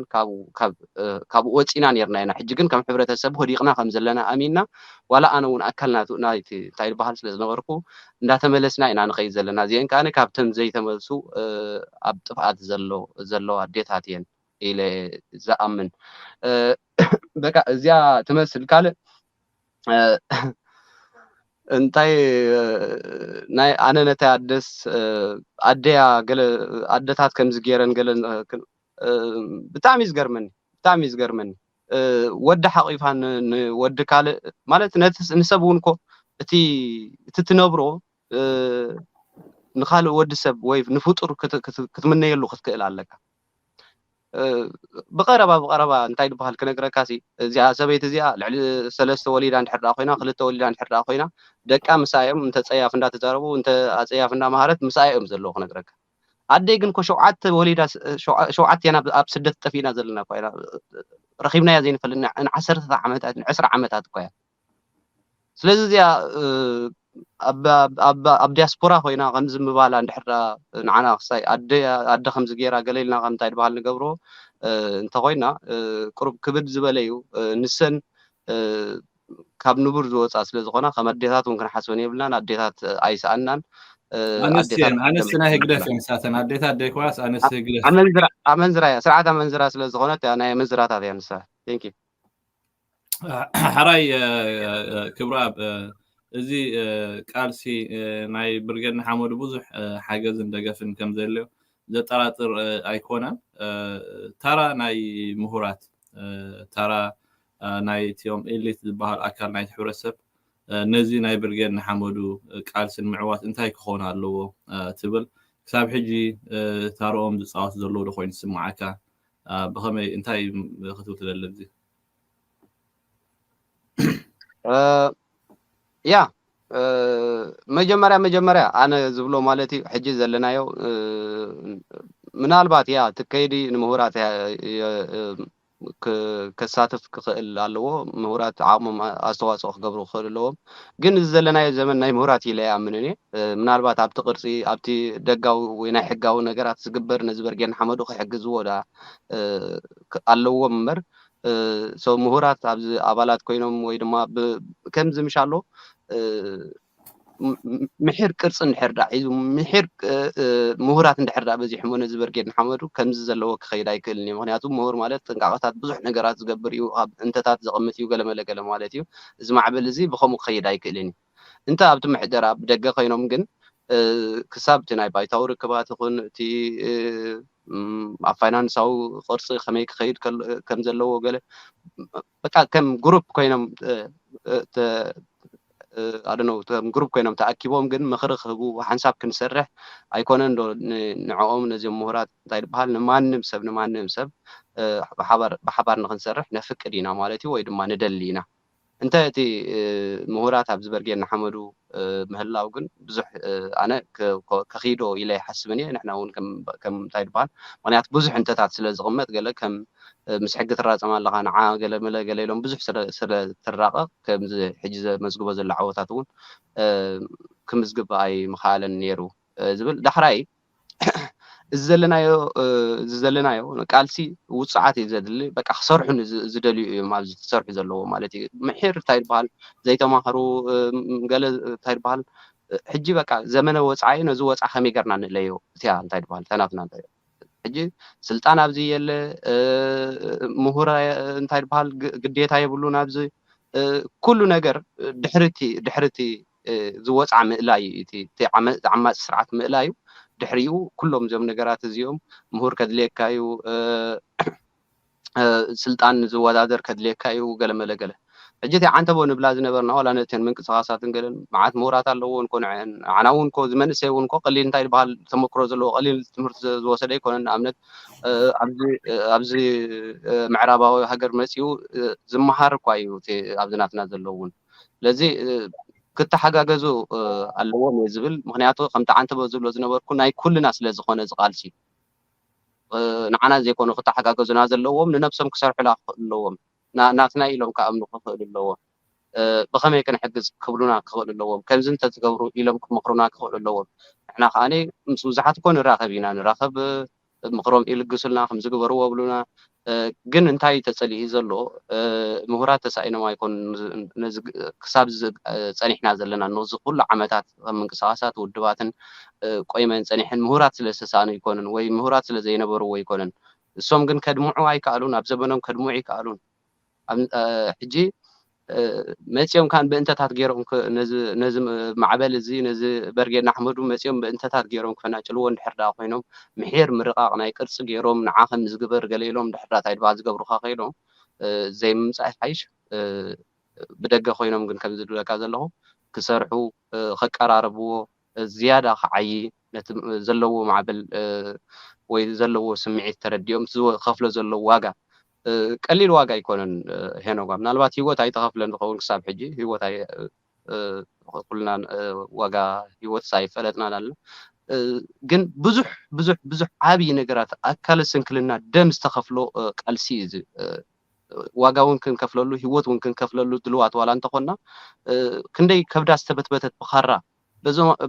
B: ካብኡ ወጺና ኔርና ኢና ሕጂ ግን ከም ሕብረተሰብ ወዲቅና ከም ዘለና ኣሚና ዋላ ኣነ ውን ኣካል ናቱ ናይቲ እንታይ ይብሃል ስለ ዝነበርኩ እንዳተመለስና ኢና ንከይድ ዘለና እዚኤን ከኣ ካብተን ዘይተመልሱ ኣብ ጥፍኣት ዘለዋ ኣዴታት እየን ኢለ ዝኣምን በቃ እዚኣ ትመስል ካልእ እንታይ ናይ ኣነ ነታይ ኣደስ ኣደያ ገለ ኣደታት ከምዚ ገይረን ገለ ብጣዕሚ እዩ ዝገርመኒ ብጣዕሚ እዩ ዝገርመኒ ወዲ ሓቂፋ ንወዲ ካልእ ማለት ንሰብ እውን እኮ እቲ እቲ ትነብሮ ንኻልእ ወዲ ሰብ ወይ ንፍጡር ክትምነየሉ ክትክእል ኣለካ። ብቐረባ ብቐረባ እንታይ ድበሃል ክነግረካሲ እዚኣ ሰበይቲ እዚኣ ልዕሊ ሰለስተ ወሊዳ እንድሕር ደኣ ኮይና ክልተ ወሊዳ እንድሕር ደኣ ኮይና ደቃ ምስኣ እዮም እንተ ጸያፍ እንዳተዛረቡ እንተ ኣጸያፍ እንዳመሃረት ምስኣ እዮም ዘለዉ ክነግረካ ኣደይ ግን ኮ ሸውዓተ ወሊዳ ሸውዓተ ናብ ኣብ ስደት ጠፊእና ዘለና እኳ ኢና ረኺብናያ ዘይንፈልጥ ንዓሰርተታት ዓመታት ንዕስራ ዓመታት እኳ እያ ስለዚ እዚኣ ኣብ ዲያስፖራ ኮይና ከምዚ ምባላ እንድሕር ንዓና ክሳይ ኣደ ከምዚ ገይራ ገለ ኢልና ከም እንታይ ድበሃል ንገብሮ እንተኾይና ቅሩብ ክብድ ዝበለ እዩ ንሰን ካብ ንቡር ዝወፃ ስለ ዝኾና ከም ኣዴታት እውን ክንሓስበን የብልናን ኣዴታት ኣይሰኣናን ኣንስቲ
A: ናይ ህግደፍ እዮም ንሳተን ኣዴታት ደይኮናስ ኣንስቲ ህግደፍ ኣመንዝራ እያ
B: ስርዓት ኣመንዝራ ስለ ዝኾነት ናይ ኣመንዝራታት እያ ንሳ ቴንኪ
A: ሓራይ ክብራብ እዚ ቃልሲ ናይ ብርጌድ ንሓመዱ ብዙሕ ሓገዝን ደገፍን ከም ዘድልዮ ዘጠራጥር ኣይኮነን። ታራ ናይ ምሁራት ታራ ናይ እትኦም ኤሊት ዝበሃል ኣካል ናይቲ ሕብረተሰብ ነዚ ናይ ብርጌድ ንሓመዱ ቃልስን ምዕዋት እንታይ ክኾን ኣለዎ ትብል? ክሳብ ሕጂ ታርኦም ዝፃወት ዘለዎ ዶ ኮይኑ ይስምዓካ? ብኸመይ እንታይ ክትብል ትደሊ?
B: ያ መጀመርያ መጀመርያ ኣነ ዝብሎ ማለት እዩ ሕጂ ዘለናዮ ምናልባት ያ ትከይዲ ንምሁራት ከሳትፍ ክኽእል ኣለዎ ምሁራት ዓቕሞም ኣስተዋፅኦ ክገብሩ ክኽእል ኣለዎም ግን እዚ ዘለናዮ ዘመን ናይ ምሁራት ኢለ ይኣምን እኔ ምናልባት ኣብቲ ቅርፂ ኣብቲ ደጋዊ ወይ ናይ ሕጋዊ ነገራት ዝግበር ነዚ በርጌን ሓመዱ ክሕግዝዎ ዳ ኣለዎም እምበር so ምሁራት ኣብዚ ኣባላት ኮይኖም ወይ ድማ ብ ከምዚ ምሻሎ ምሒር ቅርጺ እንድሕር ድኣ ሒዙ ምሒር ምሁራት እንድሕር ድኣ በዚሖሞ ነዚ በርጌድ ንሓመዱ ከምዚ ዘለዎ ክኸይድ ኣይክእልን እዩ ምክንያቱ ምሁር ማለት ጥንቃቐታት ብዙሕ ነገራት ዝገብር እዩ ኣብ እንተታት ዘቐምጥ እዩ ገለመለ ገለ ማለት እዩ እዚ ማዕበል እዚ ብከምኡ ክኸይድ ኣይክእልን እዩ እንተ ኣብቲ ምሕደራ ብደገ ከይኖም ግን ክሳብ እቲ ናይ ባይታዊ ርክባት ይኹን እቲ ኣብ ፋይናንሳዊ ቅርጺ ከመይ ክኸይድ ከም ዘለዎ ገለ በቃ ከም ግሩፕ ኮይኖም ኣደነው ከም ግሩፕ ኮይኖም ተኣኪቦም ግን ምኽሪ ክህቡ ሓንሳብ ክንሰርሕ ኣይኮነን ዶ ንዕኦም ነዚኦም ምሁራት እንታይ ዝበሃል ንማንም ሰብ ንማንም ሰብ ብሓባር ንክንሰርሕ ነፍቅድ ኢና ማለት እዩ ወይ ድማ ንደሊ ኢና እንተ እቲ ምሁራት ኣብ ዝበርጌ እናሓመዱ ምህላው ግን ብዙሕ ኣነ ከኺዶ ኢለ ኣይሓስብን እየ ንሕና እውን ከም እንታይ ድበሃል ምኽንያት ብዙሕ እንተታት ስለ ዝቕመጥ ገለ ከም ምስ ሕጊ ትራጸም ኣለኻ ንዓ ገለ መለ ገለ ኢሎም ብዙሕ ስለ ትራቐቕ ከምዚ ሕጂ ዘመዝግቦ ዘሎ ዓወታት እውን ክምዝግብ ኣይምኸኣለን ነይሩ ዝብል ዳሕራይ እዚ ዘለናዮ እዚ ዘለናዮ ቃልሲ ውፅዓት እዩ ዘድሊ በቃ ክሰርሑ ዝደልዩ እዮም ኣብዚ ዝሰርሑ ዘለዎ ማለት እዩ ምሒር እንታይ ይበሃል ዘይተማህሩ ገለ እንታይ ይበሃል ሕጂ በቃ ዘመነ ወፃኢ ነዚ ወፃ ከመይ ገርና ንለዮ እቲያ እንታይ ይበሃል ተናትና እንታይ ሕጂ ስልጣን ኣብዚ የለ ምሁር እንታይ ይበሃል ግዴታ የብሉን ኣብዚ ኩሉ ነገር ድሕርቲ ድሕርቲ ዝወጽዓ ምእላይ እዩ እቲ እቲ ዓመጽ ዓማጺ ስርዓት ምእላይ እዩ ድሕሪኡ ኩሎም እዚኦም ነገራት እዚኦም ምሁር ከድልየካ እዩ ስልጣን ዝወዳደር ከድልየካ እዩ ገለ መለ ገለ ሕጂ እቲ ዓንተቦ ንብላ ዝነበርና ዋላ ነተን ምንቅስቓሳትን ገለን መዓት ምሁራት ኣለዎን እኮ ንዐን ንዓና እውን እኮ እዚ መንእሰይ እውን እኮ ቀሊል እንታይ ዝበሃል ተመክሮ ዘለዎ ቀሊል ትምህርቲ ዝወሰደ ኣይኮነን ንኣብነት ኣብዚ ኣብዚ ምዕራባዊ ሃገር መጺኡ ዝመሃር እኳ እዩ እቲ ኣብዚ ናትና ዘለውን ስለዚ ክተሓጋገዙ ኣለዎም እየ ዝብል ምክንያቱ ከምቲ ዓንተቦ ዝብሎ ዝነበርኩ ናይ ኩልና ስለ ዝኾነ እዚ ቃልሲ ንዓና ዘይኮኑ ክተሓጋገዙና ዘለዎም ንነብሶም ክሰርሑላ ክኽእሉ ኣለዎም ናትና ኢሎም ክኣምኑ ክኽእሉ ኣለዎም ብኸመይ ክንሕግዝ ክብሉና ክኽእሉ ኣለዎም ከምዚ እንተትገብሩ ኢሎም ክመኽሩና ክኽእሉ ኣለዎም ንሕና ከዓኒ ምስ ብዙሓት እኮ ንራኸብ ኢና ንራኸብ ምኽሮም ይልግሱልና ከምዚ ግበርዎ ይብሉና ግን እንታይ ተጸሊኡ ዘሎ ምሁራት ተሳኢኖም ኣይኮኑን ነዚ ክሳብ እዚ ጸኒሕና ዘለና ነዚ ኩሉ ዓመታት ከም ምንቅስቃሳት ውድባትን ቆይመን ጸኒሐን ምሁራት ስለ ዝተሳእኑ ኣይኮኑን ወይ ምሁራት ስለ ዘይነበርዎ ኣይኮነን እሶም ግን ከድምዑ ኣይከኣሉን ኣብ ዘበኖም ከድምዑ ኣይከኣሉን ሕጂ መጺኦም ካን ብእንተታት ጌሮም ነዚ ማዕበል እዚ ነዚ በርጌድ ንኣሕመዱ መጺኦም ብእንተታት ጌሮም ክፈናጭልዎ እንድሕር ድኣ ኮይኖም ምሒር ምርቃቕ ናይ ቅርጺ ጌሮም ንዓ ከምዚ ግበር ገለ ኢሎም እንድሕር ድኣ ታይ ድኣ ዝገብሩኻ ኮይኖም ዘይምምጻእ ይሓይሽ ብደገ ኮይኖም ግን ከምዚ ዝብለካ ዘለኹ ክሰርሑ ከቀራርብዎ ዝያዳ ክዓዪ ነቲ ዘለዎ ማዕበል ወይ ዘለዎ ስምዒት ተረዲኦም እቲ ዝኸፍሎ ዘሎ ዋጋ ቀሊል ዋጋ ኣይኮነን ሄኖጋ ምናልባት ሂወት ኣይተኸፍለን ዝኸውን ክሳብ ሕጂ ሂወት ኩልና ዋጋ ሂወትስ ኣይፈለጥናን ኣለና ግን ብዙሕ ብዙሕ ብዙሕ ዓብዪ ነገራት ኣካለ ስንክልና ደም ዝተኸፍሎ ቃልሲ እዩ እዚ ዋጋ እውን ክንከፍለሉ ሂወት እውን ክንከፍለሉ ድልዋት ዋላ እንተኾንና ክንደይ ከብዳ ዝተበትበተት ብኻራ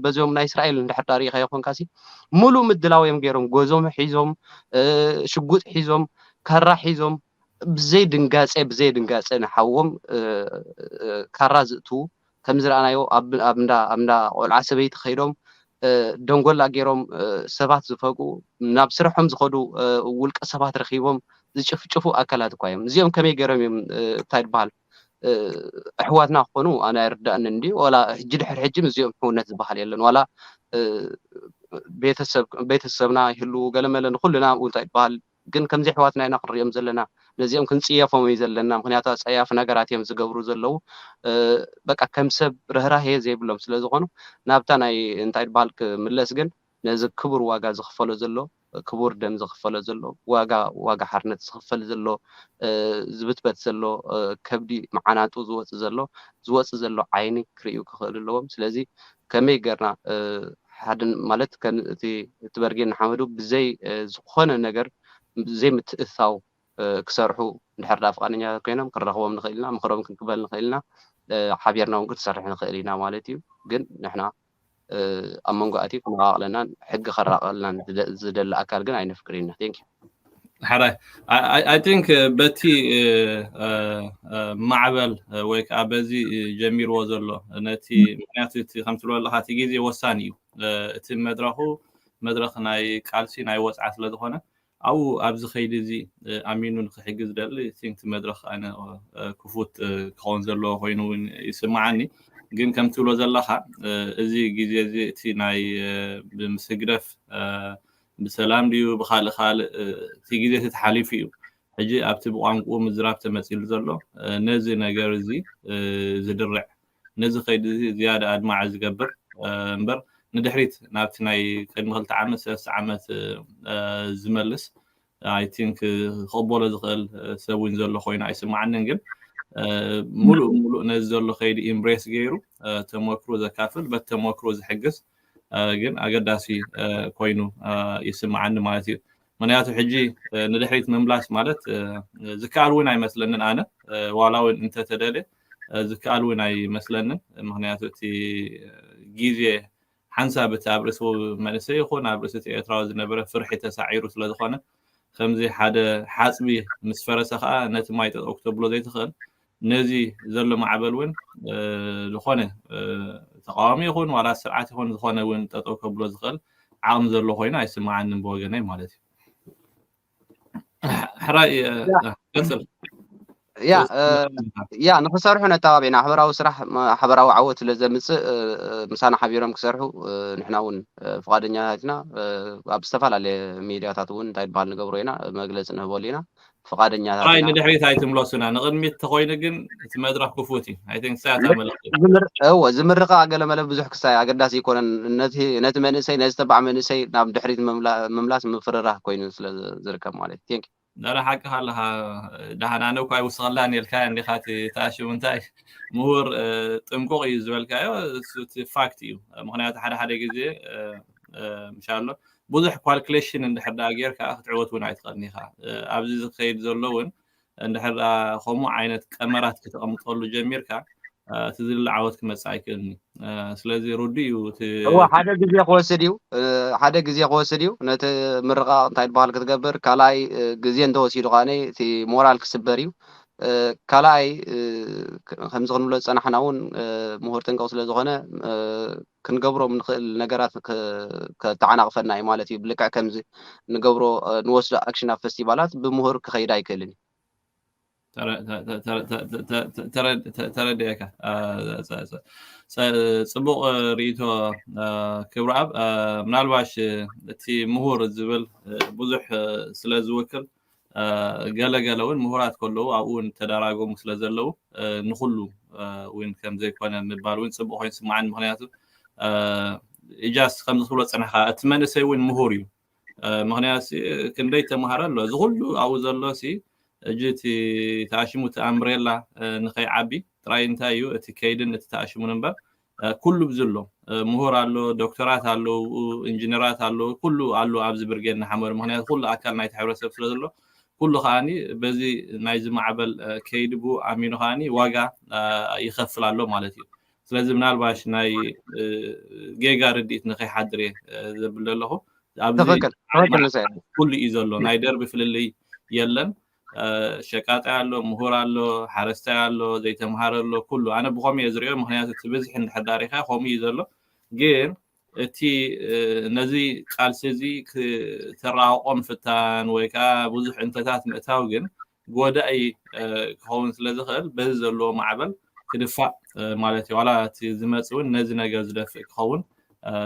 B: በዞም ናይ እስራኤል እንድሕር ዳ ርኢኻዮ ኮንካሲ ሙሉእ ምድላው እዮም ገይሮም ጎዞም ሒዞም ሽጉጥ ሒዞም ካራ ሒዞም ብዘይ ድንጋጼ ብዘይ ድንጋጼ ንሓዎም ካራ ዝእትዉ ከም ዝረኣናዮ ኣብ እንዳ ቆልዓ ሰበይቲ ከይዶም ደንጎላ ገይሮም ሰባት ዝፈግኡ ናብ ስርሖም ዝኸዱ ውልቀ ሰባት ረኺቦም ዝጭፍጭፉ ኣካላት እኳ እዮም እዚኦም ከመይ ገይሮም እዮም እንታይ ድበሃል ኣሕዋትና ክኾኑ ኣነ ኣይርዳእንን እንድዩ ዋላ ሕጂ ድሕሪ ሕጂ ምስዚኦም ሕውነት ዝበሃል የለን ዋላ ቤተሰብና ይህልው ገለመለ ንኩልና ኣብኡ እንታይ ይበሃል ግን ከምዚ ኣሕዋትና ኢና ክንሪኦም ዘለና ነዚኦም ክንፅየፎም እዩ ዘለና ምክንያቱ ኣፀያፊ ነገራት እዮም ዝገብሩ ዘለው በቃ ከም ሰብ ርህራሄ ዘይብሎም ስለዝኾኑ ናብታ ናይ እንታይ ይበሃል ክምለስ ግን ነዚ ክቡር ዋጋ ዝኽፈሎ ዘሎ ክቡር ደም ዝኽፈሎ ዘሎ ዋጋ ዋጋ ሓርነት ዝኽፈል ዘሎ ዝብትበት ዘሎ ከብዲ ምዓናጡ ዝወጽእ ዘሎ ዝወጽእ ዘሎ ዓይኒ ክርእዩ ክኽእሉ ኣለዎም ስለዚ ከመይ ገርና ሓደ ማለት ከም እቲ ትበርጌን ንሓመዱ ብዘይ ዝኾነ ነገር ብዘይ ምትእትታው ክሰርሑ እንድሕር ደኣ ፍቓደኛታት ኮይኖም ክንረኽቦም ንኽእል ኢና ምኽሮም ክንቅበል ንኽእል ኢና ሓቢርና እውን ክንሰርሕ ንኽእል ኢና ማለት እዩ ግን ንሕና ኣብ መንጎ ኣትዩ ክነቓቕለናን ሕጊ ከራቕቐልናን ዝደሊ ኣካል ግን ኣይነፍቅርን ኢና ቴንክ ዩ ሓራይ
A: ኣይ ቲንክ በቲ ማዕበል ወይ ከዓ በዚ ጀሚርዎ ዘሎ ነቲ ምክንያቱ እቲ ከም ትብሎ ኣለካ እቲ ግዜ ወሳኒ እዩ እቲ መድረኩ መድረክ ናይ ቃልሲ ናይ ወፅዓ ስለዝኮነ ኣብኡ ኣብዚ ከይዲ እዚ ኣሚኑ ንክሕግዝ ዝደሊ think እቲ መድረኽ ኣነ ክፉት ክኸውን ዘለዎ ኮይኑ እውን ይስምዓኒ ግን ከም ትብሎ ዘለኻ እዚ ግዜ እዚ እቲ ናይ ምስ ህግደፍ ብሰላም ድዩ ብካልእ ካልእ እቲ ግዜ እቲ ተሓሊፉ እዩ ሕጂ ኣብቲ ብቋንቁኡ ምዝራብ ተመፂሉ ዘሎ ነዚ ነገር እዚ ዝድርዕ ነዚ ከይዲ እዚ ዝያዳ ኣድማዒ ዝገብር እምበር ንድሕሪት ናብቲ ናይ ቅድሚ ክልተ ዓመት ሰለስተ ዓመት ዝመልስ ኣይ ቲንክ ክቕበሎ ዝኽእል ሰብ እውን ዘሎ ኮይኑ ኣይስማዓንን ግን ሙሉእ ሙሉእ ነዚ ዘሎ ከይዲ ኢምብሬስ ገይሩ ተመክሮ ዘካፍል በቲ ተመክሮ ዝሕግዝ ግን ኣገዳሲ ኮይኑ ይስማዓኒ ማለት እዩ ምክንያቱ ሕጂ ንድሕሪት ምምላስ ማለት ዝከኣል እውን ኣይመስለንን ኣነ ዋላ እውን እንተተደልየ ዝከኣል እውን ኣይመስለንን ምክንያቱ እቲ ግዜ ሓንሳብ እቲ ኣብ ርእሲ መንእሰይ ይኩን ኣብ ርእሲ እቲ ኤርትራዊ ዝነበረ ፍርሒ ተሳዒሩ ስለ ዝኮነ ከምዚ ሓደ ሓጽቢ ምስ ፈረሰ ከኣ ነቲ ማይ ጠጠው ክተብሎ ዘይትክእል ነዚ ዘሎ ማዕበል እውን ዝኮነ ተቃዋሚ ይኩን ዋላ ስርዓት ይኩን ዝኮነ እውን ጠጠው ከብሎ ዝክእል ዓቅሚ ዘሎ ኮይኑ ኣይስመዓንን ብወገነይ ማለት እዩ ሕራይ ቀፅል ያ ያ ንክሰርሑ ነተባቢዕና
B: ሓበራዊ ስራሕ ሓበራዊ ዓወት ስለ ዘምፅእ ምሳና ሓቢሮም ክሰርሑ ንሕና እውን ፍቓደኛታት ኢና ኣብ ዝተፈላለየ ሚድያታት እውን እንታይ ዝበሃል ንገብሮ ኢና መግለፂ ንህበሉ ኢና ፍቓደኛታት ንድሕሪት
A: ኣይትምለሱና ንቅድሚት ተኮይኑ ግን እቲ መድረኽ ክፉት እዩ ናይ ትንሳኤ ኣታ መልእኽቲ እወ ዝምርቃ
B: ገለመለ ብዙሕ ክሳይ ኣገዳሲ ኣይኮነን ነቲ ነቲ መንእሰይ ነዚ ተባዕ መንእሰይ ናብ ድሕሪት ምምላ- ምምላስ ምፍርራህ ኮይኑ ስለ ዝርከብ ማለት እዩ ቴንክ ዳላ ሓቅኻ ኣለኻ
A: ደሓን ኣነ እኳ ይውስኸላን ኢልካ እንዲኻ እቲ ተኣሽሙ እንታይ ምሁር እ፣ ጥንቁቕ እዩ ዝበልካዮ እሱ እቲ ፋክት እዩ ምክንያቱ ሓደ ሓደ ግዜ እ፣ እ፣ ምሻ ኣሎ ብዙሕ ኳልኩሌሽን እንድሕር ደኣ ጌርካ ክትዕወት እውን ኣይትኽእልን ኢኻ እ፣ ኣብዚ ዝኸይድ ዘሎ እውን እንድሕር ከምኡ ዓይነት ቀመራት ከተቐምጠሉ ጀሚርካ እቲ ዝድለ ዓወት ክመፅእ ኣይክእልን እዩ ስለዚ ርዱእ እዩ እዋ ሓደ
B: ግዜ ክወስድ እዩ ሓደ ግዜ ክወስድ እዩ ነቲ ምርቃቕ እንታይ ዝበሃል ክትገብር ካልኣይ ግዜ እንተወሲዱ ከዓ እቲ ሞራል ክስበር እዩ ካልኣይ ከምዚ ክንብሎ ዝፀናሕና እውን ምሁር ጥንቅቕ ስለ ዝኾነ ክንገብሮም ንክእል ነገራት ከተዓናቅፈና እዩ ማለት እዩ ብልክዕ ከምዚ ንገብሮ ንወስዶ ኣክሽን ኣብ ፈስቲቫላት ብምሁር ክከይድ ኣይክእልን እዩ
A: ተረድኤካ ፅቡቅ ርእቶ ክብረኣብ ምናልባሽ እቲ ምሁር ዝብል ብዙሕ ስለዝውክል ገለ ገለ ውን ምሁራት ከለዉ ኣብኡ ውን ተዳራጎሙ ስለ ዘለዉ ንኹሉ ውን ከም ዘይኮነ ምባል ውን ጽቡቕ ኮይኑ ስምዓኒ ምክንያቱ ኢጃስ ከምዚ ትብሎ ጽንሕካ እቲ መንእሰይ ውን ምሁር እዩ ምክንያቱ ክንደይ ተማሃረ ኣሎ እዚ ኩሉ ኣብኡ ዘሎ ሲ እጂ እቲ ተኣሽሙ እቲ ኣምብሬላ ንኸይዓቢ ጥራይ እንታይ እዩ እቲ ከይድን እቲ ተኣሽሙን እምበር ኩሉ ብ ዝሎ ምሁር ኣሎ ዶክተራት ኣለዉ ኢንጅነራት ኣለዉ ኩሉ ኣሉ ኣብዚ ብርጌድ ንሓመዱ ምክንያቱ ኩሉ ኣካል ናይቲ ሕብረተሰብ ስለ ዘሎ ኩሉ ከኣ በዚ ናይዚ ማዕበል ከይዲ ብኡ ኣሚኑ ከኣ ዋጋ ይከፍል ኣሎ ማለት እዩ ስለዚ ምናልባሽ ናይ ጌጋ ርድኢት ንከይሓድር እየ ዘብል ዘለኹ ኣብዚ ትክክል ትክክል
B: ንስኤ ኩሉ እዩ ዘሎ
A: ናይ ደርቢ ፍልልይ የለን ሸቃጣይ ኣሎ ምሁር ኣሎ ሓረስታይ ኣሎ ዘይተምሃረ ኣሎ ኩሉ ኣነ ብኸምኡ እየ ዝሪኦ ምክንያቱ እቲ ብዝሒ እንድሕር ዳር ኢኻ ከምኡ እዩ ዘሎ ግን እቲ ነዚ ቃልሲ እዚ ክተራቅቆ ምፍታን ወይ ከዓ ብዙሕ እንተታት ምእታው ግን ጎዳኢ ክኸውን ስለ ዝኽእል በዚ ዘለዎ ማዕበል ክድፋእ ማለት እዩ ዋላ እቲ ዝመፅ እውን ነዚ ነገር ዝደፍእ ክኸውን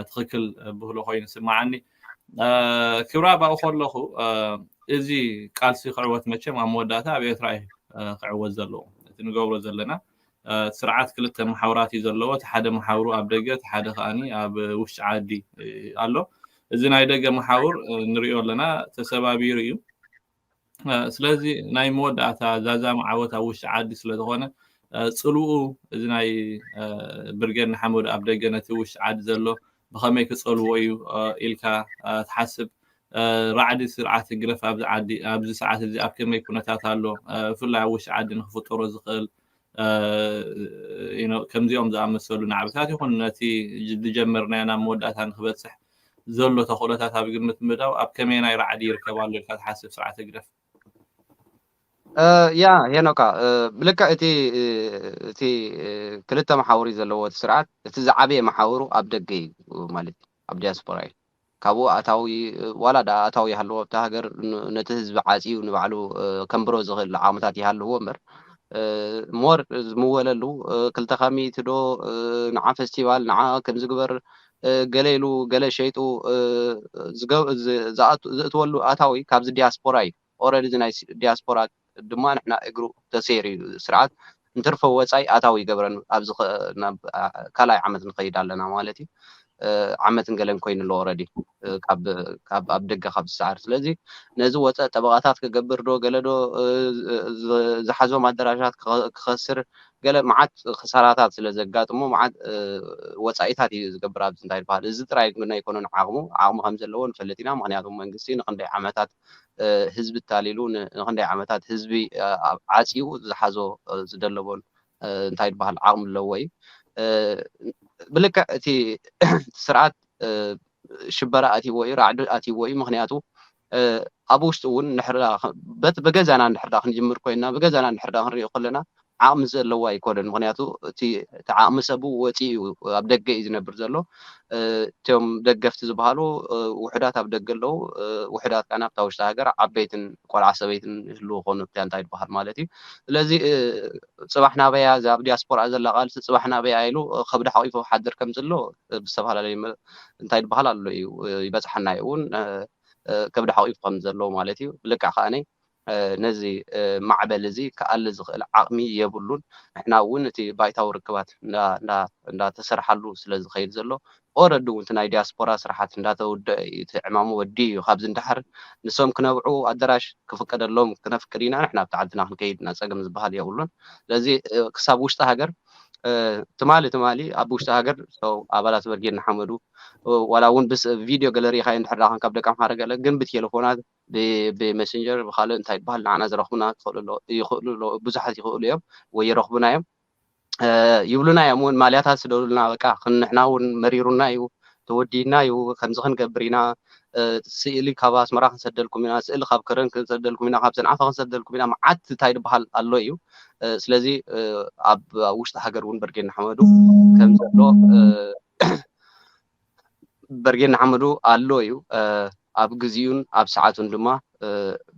A: ትኽክል ብህሎ ኮይኑ ይስማዓኒ ክብራ ኣብኡ ከለኹ እዚ ቃልሲ ክዕወት መቸም ኣብ መወዳእታ ኣብ ኤርትራ እዩ ክዕወት ዘለዎ እቲ ንገብሮ ዘለና ስርዓት ክልተ መሓውራት እዩ ዘለዎ እቲ ሓደ መሓውሩ ኣብ ደገ እቲ ሓደ ከዓኒ ኣብ ውሽጢ ዓዲ ኣሎ እዚ ናይ ደገ መሓውር ንሪኦ ኣለና ተሰባቢሩ እዩ ስለዚ ናይ መወዳእታ ዛዛሚ ዓወት ኣብ ውሽጢ ዓዲ ስለ ዝኾነ ፅልኡ እዚ ናይ ብርጌድ ንሓመዱ ኣብ ደገ ነቲ ውሽጢ ዓዲ ዘሎ ብኸመይ ክፀልዎ እዩ ኢልካ ትሓስብ ራዕዲ ስርዓት ህግደፍ ኣብዚ ዓዲ ኣብዚ ሰዓት እዚ ኣብ ከመይ ኩነታት ኣሎ ብፍላይ ኣብ ውሽጢ ዓዲ ንክፍጠሮ ዝኽእል ከምዚኦም ዝኣመሰሉ ናዕብታት ይኹን ነቲ ዝጀመርናዮ ናብ መወዳእታ ንክበፅሕ ዘሎ ተኽእሎታት ኣብ ግምት ምእታው ኣብ ከመየናይ ራዕዲ ይርከብ ኣሎ ኢልካ ትሓስብ ስርዓት ህግደፍ?
B: ያ ሄኖካ ብልክዕ እቲ እቲ ክልተ መሓውር እዩ ዘለዎ እቲ ስርዓት እቲ ዝዓበየ መሓውሩ ኣብ ደገ እዩ ማለት እዩ ኣብ ዲያስፖራ እዩ ካብኡ ኣታዊ ዋላ ድኣ ኣታዊ ይሃልዎ ኣብታ ሃገር ነቲ ህዝቢ ዓጽዩ ንባዕሉ ከንብሮ ዝኽእል ዓቕምታት ይሃልዎ እምበር ሞር ዝምወለሉ ክልተ ካሚት ዶ ንዓ ፈስቲቫል ንዓ ከምዚ ግበር ገለ ኢሉ ገለ ሸይጡ ዝእትወሉ ኣታዊ ካብዚ ዲያስፖራ እዩ። ኦረዲ እዚ ናይ ዲያስፖራ ድማ ንሕና እግሩ ተሰይሩ እዩ እዚ ስርዓት እንትርፎ ወጻይ ኣታዊ ይገብረን ኣብዚ ናብ ካልኣይ ዓመት ንኸይድ ኣለና ማለት እዩ ዓመትን ገለን ኮይኑ ኣሎ ኦረዲ ካብ ካብ ኣብ ደገ ካብ ዝሰዓር ስለዚ ነዚ ወጸ ጠበቓታት ክገብር ዶ ገለ ዶ ዝሓዞም ኣደራሻት ክኸስር ገለ መዓት ክሳራታት ስለ ዘጋጥሞ መዓት ወጻኢታት እዩ ዝገብር ኣብዚ እንታይ ዝበሃል እዚ ጥራይ ግን ኣይኮነን ዓቕሙ ዓቕሚ ከም ዘለዎ ንፈልጥ ኢና ምክንያቱ መንግስቲ ንክንደይ ዓመታት ህዝቢ ኣታሊሉ ንክንደይ ዓመታት ህዝቢ ዓፅዩ ዝሓዞ ዝደለቦን እንታይ ድበሃል ዓቅሚ ኣለዎ እዩ ብልክዕ እቲ ስርዓት ሽበራ ኣትይዎ እዩ ራዕዲ ኣትይዎ እዩ ምክንያቱ ኣብ ውሽጡ እውን ንሕርዳ በቲ ብገዛና ንሕርዳ ክንጅምር ኮይና ብገዛና ንሕርዳ ክንሪኦ ከለና ዓቕሚ ዘለዎ ኣይኮነን ምኽንያቱ እቲ እቲ ዓቕሚ ሰቡ ወጺኡ እዩ ኣብ ደገ እዩ ዝነብር ዘሎ እቶም ደገፍቲ ዝበሃሉ ውሑዳት ኣብ ደገ ኣለዉ ውሑዳት ካን ኣብታ ውሽጢ ሃገር ዓበይትን ቆልዓ ሰበይትን ይህልዉ ኮኑ ኣብታ እንታይ ዝበሃል ማለት እዩ ስለዚ ጽባሕ ናበያ እዛ ኣብ ዲያስፖራ ዘላ ቃልሲ ጽባሕ ናበያ ኢሉ ከብዲ ሓቂፉ ክሓድር ከም ዘሎ ብዝተፈላለዩ እንታይ ዝበሃል ኣሎ እዩ ይበጽሓና እዩ እውን ከብዲ ሓቂፉ ከም ዘሎ ማለት እዩ ብልክዕ ከኣ ነዚ ማዕበል እዚ ክኣሊ ዝኽእል ዓቕሚ የብሉን። ንሕና እውን እቲ ባይታዊ ርክባት እንዳ ተሰርሓሉ ስለ ዝኸይድ ዘሎ ኦረዲ እውን እቲ ናይ ዲያስፖራ ስራሓት እንዳ ተውደኣ እዩ እቲ ዕማሙ ወዲኡ እዩ ካብዚ ንደሓር ንሶም ክነብዑ ኣደራሽ ክፍቀደሎም ክነፍቅድ ኢና ንሕና ኣብቲ ዓድና ክንከይድ ኢና ጸገም ዝበሃል የብሉን ስለዚ ክሳብ ውሽጢ ሃገር ትማሊ ትማሊ ኣብ ውሽጢ ሃገር ኣባላት በርጌድ ንሓመዱ ዋላ እውን ብስ ቪድዮ ገለ ርኢኻዮ እንድሕር ደኣ ኮንካ ብ ደቀምሓረ ገለ ግን ብቴለፎናት ብመሰንጀር ብካልእ እንታይ ይበሃል ንዓና ዝረኽቡና ክኽእሉ ይኽእሉ ኣለዉ ብዙሓት ይኽእሉ እዮም ወይ ይረኽቡና እዮም ይብሉና እዮም እውን ማልያታት ስደዱልና በቃ ንሕና እውን መሪሩና እዩ ተወዲና እዩ ከምዚ ክንገብር ኢና ስእሊ ካብ ኣስመራ ክንሰደልኩም ኢና ስእሊ ካብ ከረን ክንሰደልኩም ኢና ካብ ሰንዓፈ ክንሰደልኩም ኢና መዓት እንታይ ድበሃል ኣሎ እዩ ስለዚ ኣብ ውሽጢ ሃገር እውን በርጌድ ንሓመዱ ከም ዘሎ በርጌድ ንሓመዱ ኣሎ እዩ ኣብ ግዚኡን ኣብ ሰዓቱን ድማ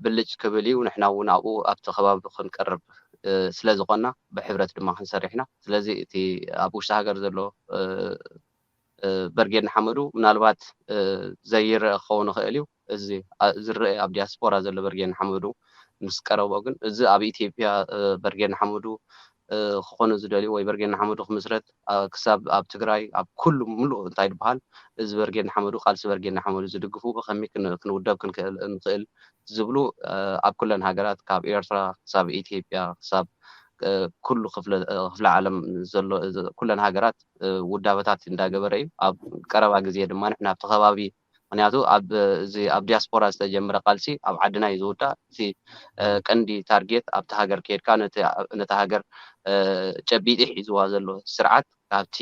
B: ብልጭ ክብል እዩ ንሕና እውን ኣብኡ ኣብቲ ከባቢ ክንቀርብ ስለ ዝኾና ብሕብረት ድማ ክንሰርሕ ኢና ስለዚ እቲ ኣብ ውሽጢ ሃገር ዘሎ በርጌድ ንሓመዱ ምናልባት ዘይረአ ክኸውን ይኽእል እዩ እዚ ዝረኤ ኣብ ዲያስፖራ ዘሎ በርጌድ ንሓመዱ ምስ ቀረቦ ግን እዚ ኣብ ኢትዮጵያ በርጌድ ንሓመዱ ክኾኑ ዝደልዩ ወይ በርጌድ ንሓመዱ ክምስረት ክሳብ ኣብ ትግራይ ኣብ ኩሉ ምሉእ እንታይ ድበሃል እዚ በርጌድ ንሓመዱ ቃልሲ በርጌድ ንሓመዱ ዝድግፉ ብኸመይ ክንውደብ ክንክእል ንኽእል ዝብሉ ኣብ ኩለን ሃገራት ካብ ኤርትራ ክሳብ ኢትዮጵያ ክሳብ ኩሉ ክፍለ ክፍለ ዓለም ዘሎ ኩለን ሃገራት ውዳበታት እንዳገበረ እዩ ኣብ ቀረባ ግዜ ድማ ንሕና ኣብቲ ከባቢ ምክንያቱ ኣብ እዚ ኣብ ዲያስፖራ ዝተጀምረ ቃልሲ ኣብ ዓድና እዩ ዝውዳእ እቲ ቀንዲ ታርጌት ኣብቲ ሃገር ኬድካ ነቲ ነታ ሃገር ጨቢጢ ሒዝዋ ዘሎ ስርዓት ካብቲ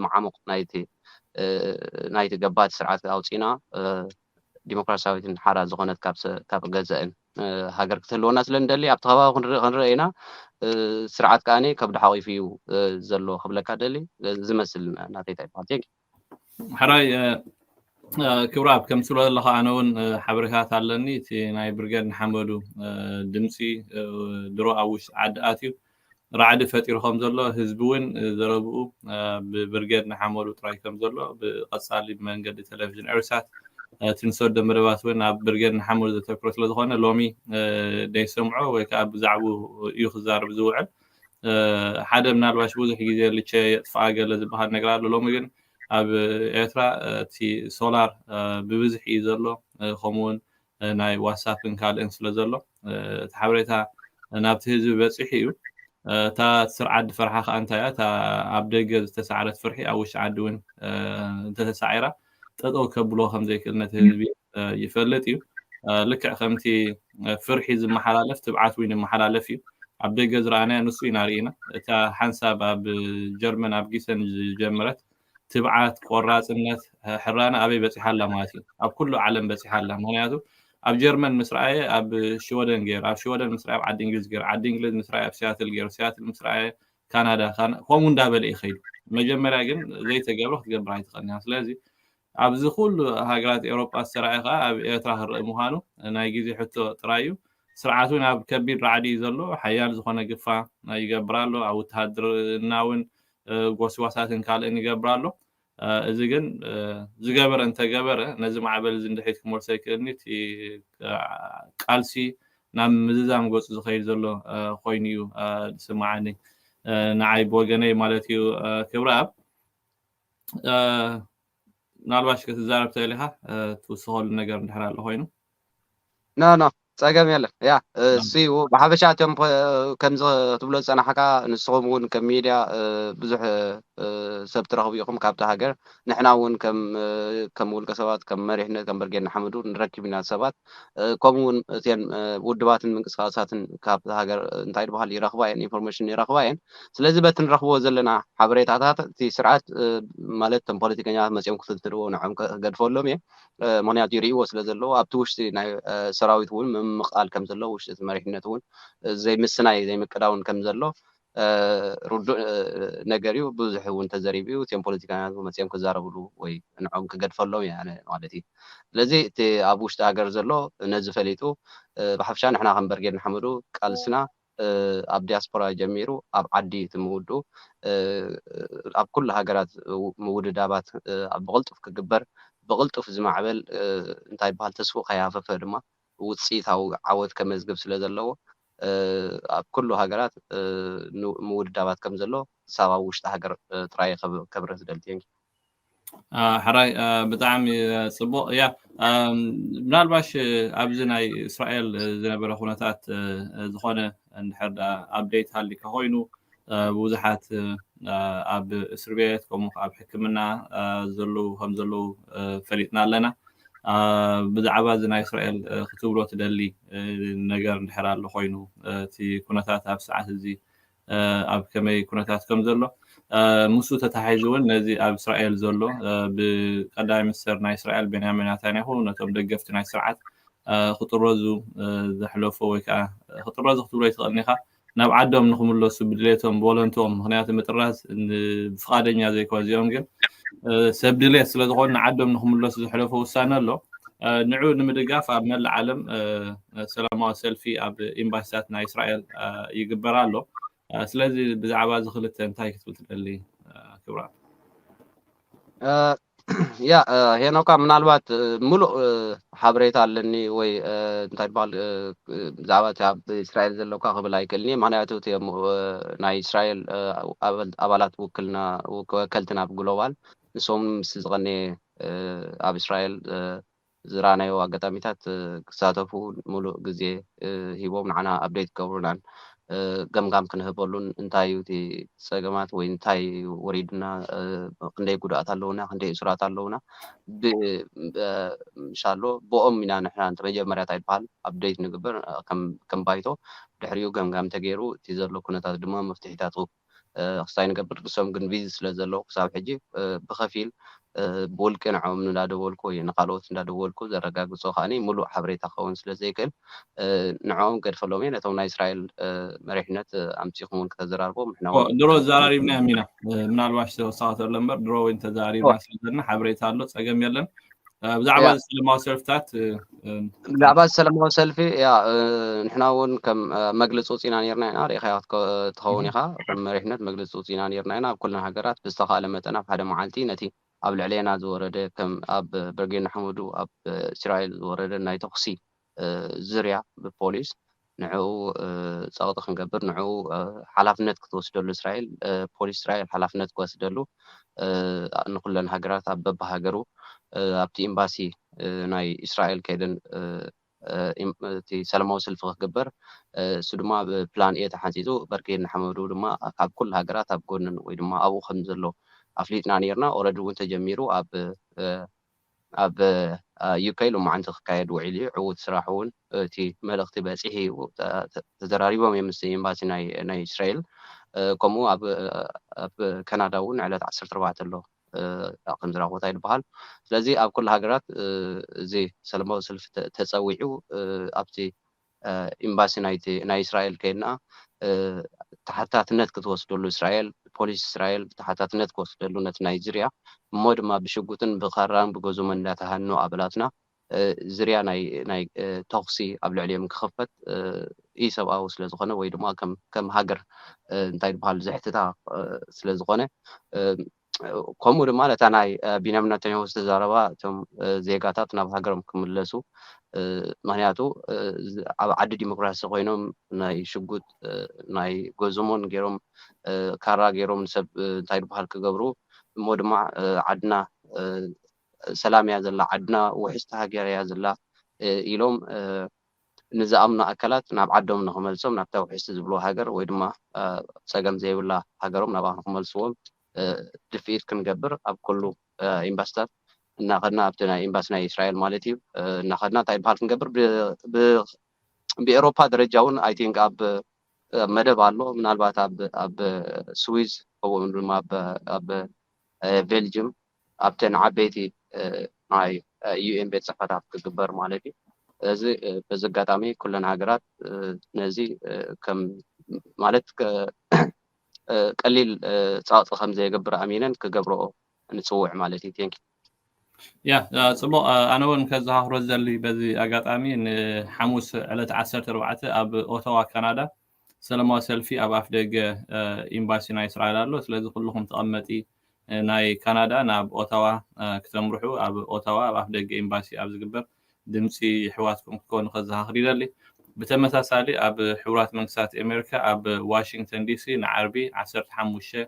B: መዓሙቅ ናይቲ ናይቲ ገባቲ ስርዓት ኣውጺና ዲሞክራሲያዊትን ሓራ ዝኮነት ካብ ካብ ገዘእን ሃገር ክትህልወና ስለ ንደሊ ኣብቲ ከባቢ ክንርኢ ክንርኢ ኢና ስርዓት ከኣ ከብዱ ሓቂፉ እዩ ዘሎ ክብለካ ደሊ ዝመስል ናተይ ታይ ይበሃል ቴንኪው
A: ሓራይ ክብራብ ከም ትብሎ ዘለኻ ኣነ እውን ሓበሬታት ኣለኒ እቲ ናይ ብርገድ ንሓመዱ ድምፂ ድሮ ኣብ ውሽጢ ዓዲ ኣትዩ ራዕዲ ፈጢሩ ከም ዘሎ ህዝቢ እውን ዘረብኡ ብብርገድ ንሓመዱ ጥራይ ከም ዘሎ ብቐፃሊ ብመንገዲ ቴሌቭዥን ኤርሳት እቲ ንሰዶ መደባት እውን ኣብ ብርገድ ንሓመዱ ዘተክሮ ስለዝኾነ ሎሚ ደይሰምዖ ወይ ከዓ ብዛዕባኡ እዩ ክዛረብ ዝውዕል ሓደ ምናልባሽ ብዙሕ ግዜ ልቸ የጥፍኣ ገለ ዝበሃል ነገር ኣሎ ሎሚ ግን ኣብ ኤርትራ እቲ ሶላር ብብዝሒ እዩ ዘሎ ከምኡ ውን ናይ ዋትሳፕን ካልእን ስለ ዘሎ እቲ ሓበሬታ ናብቲ ህዝቢ በፂሑ እዩ እታ ስር ዓዲ ፈርሓ ከዓ እንታይ እያ እታ ኣብ ደገ ዝተሰዕረት ፍርሒ ኣብ ውሽጢ ዓዲ እውን እንተተሳዒራ ጠጠው ከብሎ ከምዘይክእል ነቲ ህዝቢ ይፈልጥ እዩ ልክዕ ከምቲ ፍርሒ ዝመሓላለፍ ትብዓት እውን ይመሓላለፍ እዩ ኣብ ደገ ዝረኣናዮ ንሱ ኢና ርኢና እታ ሓንሳብ ኣብ ጀርመን ኣብ ጊሰን ዝጀመረት ትብዓት ቆራፅነት ሕራነ ኣበይ በፂሓ ኣላ ማለት እዩ ኣብ ኩሉ ዓለም በፂሓ ኣላ ምክንያቱ ኣብ ጀርመን ምስ ረኣየ ኣብ ሽወደን ገይሩ ኣብ ሽወደን ምስ ረኣየ ኣብ ዓዲ እንግሊዝ ገይሩ ዓዲ እንግሊዝ ምስ ረኣየ ኣብ ሲያትል ገይሩ ሲያትል ምስ ረኣየ ካናዳ ከምኡ እንዳበለ ይኸይዱ መጀመርያ ግን ዘይተገብረ ክትገብር ኣይትኽእልን እያ ስለዚ ኣብዚ ኩሉ ሃገራት ኤውሮጳ ዝተራእየ ከኣ ኣብ ኤርትራ ክረኣ ምዃኑ ናይ ግዜ ሕቶ ጥራይ እዩ። ስርዓት እውን ኣብ ከቢድ ራዕዲ እዩ ዘሎ። ሓያል ዝኾነ ግፋ ይገብር ኣሎ። ኣብ ውትሃድርና እውን ጎስጓሳትን ካልእን ይገብር ኣሎ። እዚ ግን ዝገበረ እንተገበረ ነዚ ማዕበል እዚ ንድሕሪት ክመልሶ ኣይክእልን እዩ። እቲ ቃልሲ ናብ ምዝዛም ገጹ ዝኸይድ ዘሎ ኮይኑ እዩ ዝስምዓኒ ንዓይ ብወገነይ ማለት እዩ ክብረኣብ። ምናልባሽ ክትዛረብ ትኽእል ኢኻ ትውስኸሉ ነገር እንድሕር ኣሎ ኮይኑ ኖ
B: ኖ ጸገም የለን ያ እሱ ብሓፈሻ እቶም ከምዚ ክትብሎ ዝጸናሕካ ንስኹም እውን ከም ሚድያ ብዙሕ ሰብ ትረኽቡ ኢኹም ካብቲ ሃገር ንሕና እውን ከም ውልቀ ሰባት ከም መሪሕነት ከም ብርጌድ ንሓመዱ ንረክብ ኢና ሰባት ከምኡ ውን እተን ውድባትን ምንቅስቃሳትን ካብታ ሃገር እንታይ ድበሃል ይረኽባ እየን ኢንፎርሜሽን ይረኽባ እየን ስለዚ በቲ ንረኽብዎ ዘለና ሓበሬታታት እቲ ስርዓት ማለት እቶም ፖለቲከኛታት መጺኦም ክፍትንትንዎ ንዖም ክገድፈሎም እየ ምክንያቱ ይርእይዎ ስለ ዘለዎ ኣብቲ ውሽጢ ናይ ሰራዊት እውን ምምቃል ከም ዘሎ ውሽጢ እቲ መሪሕነት እውን ዘይምስናይ ዘይምቅዳውን ከም ዘሎ ርዱእ ነገር እዩ ብዙሕ እውን ተዘሪቡ እዩ እትም ፖለቲካውያን እውን መፅዮም ክዛረብሉ ወይ ንዕኦም ክገድፈሎም እየ ኣነ ማለት እዩ ስለዚ እቲ ኣብ ውሽጢ ሃገር ዘሎ ነዚ ፈሊጡ ብሓፍሻ ንሕና ከም በርጌድ ንሓመዱ ቃልስና ኣብ ዲያስፖራ ጀሚሩ ኣብ ዓዲ እቲ ምውድኡ ኣብ ኩሉ ሃገራት ምውድዳባት ብቕልጡፍ ክግበር ብቕልጡፍ ዝማዕበል እንታይ ይበሃል ተስፍኡ ከይሃፈፈ ድማ ውፅኢታዊ ዓወት ከመዝግብ ስለዘለዎ ኣብ ኩሉ ሃገራት ምውድዳባት ከምዘሎ ክሳብ ኣብ ውሽጢ ሃገር ጥራይ እየ ከብርህ ዝደሊ። Thank you።
A: ሕራይ ብጣዕሚ ጽቡቕ እያ ምናልባሽ ኣብዚ ናይ እስራኤል ዝነበረ ኩነታት ዝኾነ እንድሕር ኣፕዴት ሃሊካ ኮይኑ ብዙሓት ኣብ እስርቤት ከምኡ ከኣ ኣብ ሕክምና ዘለዉ ከም ዘለዉ ፈሊጥና ኣለና። ብዛዕባ እዚ ናይ እስራኤል ክትብሎ ትደሊ ነገር እንድሕር ኣሎ ኮይኑ እቲ ኩነታት ኣብዚ ሰዓት እዚ ኣብ ከመይ ኩነታት ከም ዘሎ ምስኡ ተተሓሒዙ እውን ነዚ ኣብ እስራኤል ዘሎ ብቀዳማይ ሚኒስተር ናይ እስራኤል ቤንያሚን ናታንያሁ ነቶም ደገፍቲ ናይ ስርዓት ክጥረዙ ዘሕለፎ ወይ ከኣ ክጥረዙ ክትብሎ ኣይትኽእልን ኢኻ ናብ ዓዶም ንክምለሱ ብድሌቶም ብወለንትኦም ምክንያቱ ምጥራዝ ብፍቃደኛ ዘይኮነ እዚኦም ግን ሰብ ድሌት ስለዝኾኑ ንዓዶም ንክምለሱ ዘሕለፎ ውሳነ ኣሎ ንዑ ንምድጋፍ ኣብ መላእ ዓለም ሰላማዊ ሰልፊ ኣብ ኤምባሲታት ናይ እስራኤል ይግበር ኣሎ ስለዚ ብዛዕባ እዚ ክልተ እንታይ ክትብል ትደሊ ክብራ
B: ያ ሄኖካ ምናልባት ምሉእ ሓበሬታ ኣለኒ ወይ እንታይ በሃል ብዛዕባ እቲ ኣብ እስራኤል ዘለካ ክብል ኣይክእልኒ ምክንያቱ እቲ ናይ እስራኤል ኣባላት ውክልና ወከልቲ ናብ ግሎባል ንሶም ምስ ዝቐነየ ኣብ እስራኤል ዝረኣናዮ ኣጋጣሚታት ክሳተፉ ሙሉእ ግዜ ሂቦም ንዓና ኣፕደይት ክገብሩናን ገምጋም ክንህበሉን እንታይ እዩ እቲ ፀገማት ወይ እንታይ እዩ ወሪዱና ክንደይ ጉድኣት ኣለውና ክንደይ እሱራት ኣለውና ብሻሎ ብኦም ኢና ንሕና እንተ መጀመርያ እንታይ ይበሃል ኣፕደይት ንግበር ከም ባይቶ ድሕሪኡ ገምጋም ተገይሩ እቲ ዘሎ ኩነታት ድማ መፍትሒታቱ ክሳይ ንገብር ንሶም ግን ቢዚ ስለ ዘለዉ ክሳብ ሕጂ ብኸፊል ብውልቂ ንዕኦም እንዳደወልኩ ወይ ንኻልኦት እንዳደወልኩ ዘረጋግጾ ከኣ ምሉእ ሓበሬታ ክኸውን ስለ ዘይክእል ንዕኦም ገድፈሎም እየ ነቶም ናይ እስራኤል መሪሕነት ኣምጺኹም እውን ከተዘራርቦም ንሕና ኦ፣ ድሮ ኣዘራሪብናዮም
A: ኢና ምናልባሽ ተወሳኺ ተሎ እምበር ድሮ እውን ተዘራሪብና ስለ ዘለና ሓበሬታ ኣሎ ጸገም የለን ብዛዕባ
B: እዚ ሰለማዊ ሰልፍታት ብዛዕባ እዚ ሰለማዊ ሰልፊ ያ ንሕና እውን ከም መግለፂ ውፅኢና ነርና ኢና ሪኢኻዮ ትኸውን ኢኻ ከም መሪሕነት መግለፂ ውፅኢና ነርና ኢና ኣብ ኩለን ሃገራት ብዝተኻእለ መጠን ኣብ ሓደ መዓልቲ ነቲ ኣብ ልዕሌና ዝወረደ ከም ኣብ በርጌድ ንሓመዱ ኣብ እስራኤል ዝወረደ ናይ ተኹሲ ዝርያ ብፖሊስ ንዕኡ ጸቕጢ ክንገብር ንዕኡ ሓላፍነት ክትወስደሉ እስራኤል ፖሊስ እስራኤል ሓላፍነት ክወስደሉ ንኹለን ሃገራት ኣብ በብሃገሩ ኣብቲ ኤምባሲ ናይ እስራኤል ከይደን እቲ ሰላማዊ ሰልፊ ክግበር እሱ ድማ ብ ፕላን ኤ ተሓንጺጹ በርጌድ ንሓመዱ ድማ ካብ ኩሉ ሃገራት ኣብ ጎንን ወይ ድማ ኣብኡ ከም ዘሎ ኣፍሊጥና ኔርና ኦረዲ እውን ተጀሚሩ ኣብ ኣብ UK ሎማዕንቲ ክካየድ ውዒሉ እዩ። ዕዉት ስራሕ እውን እቲ መልእኽቲ በጺሑ እዩ። ተዘራሪቦም እዮም ምስ ኤምባሲ ናይ እስራኤል። ከምኡ ኣብ ካናዳ እውን ዕለት ዓሰርተ ኣርባዕተ ኣሎ ከም ዝረኽቦ ይበሃል። ስለዚ ኣብ ኩሉ ሃገራት እዚ ሰለማዊ ሰልፊ ተጸዊዑ ኣብቲ ኢምባሲ ናይቲ ናይ እስራኤል ከይድና ተሓታትነት ክትወስደሉ እስራኤል ፖሊስ እስራኤል ተሓታትነት ክወስደሉ ነቲ ናይ ዝርያ እሞ ድማ ብሽጉጥን ብኻራን ብገዞምን እንዳተሃኑ ኣበላትና ዝርያ ናይ ናይ ተኹሲ ኣብ ልዕሊኦም ክኽፈት ኢሰብኣዊ ስለ ዝኾነ ወይ ድማ ከም ከም ሃገር እንታይ ድበሃል ዘሕትታ ስለ ዝኾነ ከምኡ ድማ ነታ ናይ ቢንያም ነተኛሁ ዝተዛረባ እቶም ዜጋታት ናብ ሃገሮም ክምለሱ ምክንያቱ ኣብ ዓዲ ዲሞክራሲ ኮይኖም ናይ ሽጉጥ ናይ ጎዝሞን ገይሮም ካራ ገይሮም ንሰብ እንታይ ድበሃል ክገብሩ እሞ ድማ ዓድና ሰላም እያ ዘላ ዓድና ውሕስቲ ሃገር እያ ዘላ ኢሎም ንዝኣምኑ ኣካላት ናብ ዓዶም ንክመልሶም ናብታ ውሕስቲ ዝብልዋ ሃገር ወይ ድማ ጸገም ዘይብላ ሃገሮም ናብኣ ንክመልስዎም ድፍኢት ክንገብር ኣብ ኩሉ ኤምባሲታት እናኸድና ኣብቲ ናይ ኤምባሲ ናይ እስራኤል ማለት እዩ እናኸድና እንታይ በሃል ክንገብር ብኤሮፓ ደረጃ እውን ኣይ ቲንክ ኣብ መደብ ኣሎ ምናልባት ኣብ ስዊዝ ከምኡ ድማ ኣብ ቤልጅም ኣብተን ዓበይቲ ናይ UN ቤት ጽሕፈታት ክግበር ማለት እዩ። እዚ በዚ ኣጋጣሚ ኩለን ሃገራት ነዚ ከም ማለት ቀሊል ጸቕጢ ከም ዘየገብር ኣሚነን ክገብርኦ ንጽውዕ ማለት እዩ። Thank you። ያ
A: ጽቡቕ ኣነ እውን ከዘኻኽሮ ዝደሊ በዚ ኣጋጣሚ ንሓሙስ ዕለት ዓሰርተ ኣርባዕተ ኣብ ኦታዋ ካናዳ ሰለማዊ ሰልፊ ኣብ ኣፍደገ ኢምባሲ ናይ እስራኤል ኣሎ ስለዚ ኩሉኹም ተቐመጢ ናይ ካናዳ ናብ ኦታዋ ክተምርሑ ኣብ ኦታዋ ኣብ ኣፍደገ ኢምባሲ ኣብ ዝግበር ድምጺ የሕዋትኩም ክትኮኑ ከዘኻኽር ይደሊ። ብተመሳሳሊ ኣብ ሕቡራት መንግስታት ኤሜሪካ ኣብ ዋሺንግተን ዲሲ ንዓርቢ ዓሰርተ ሓሙሽተ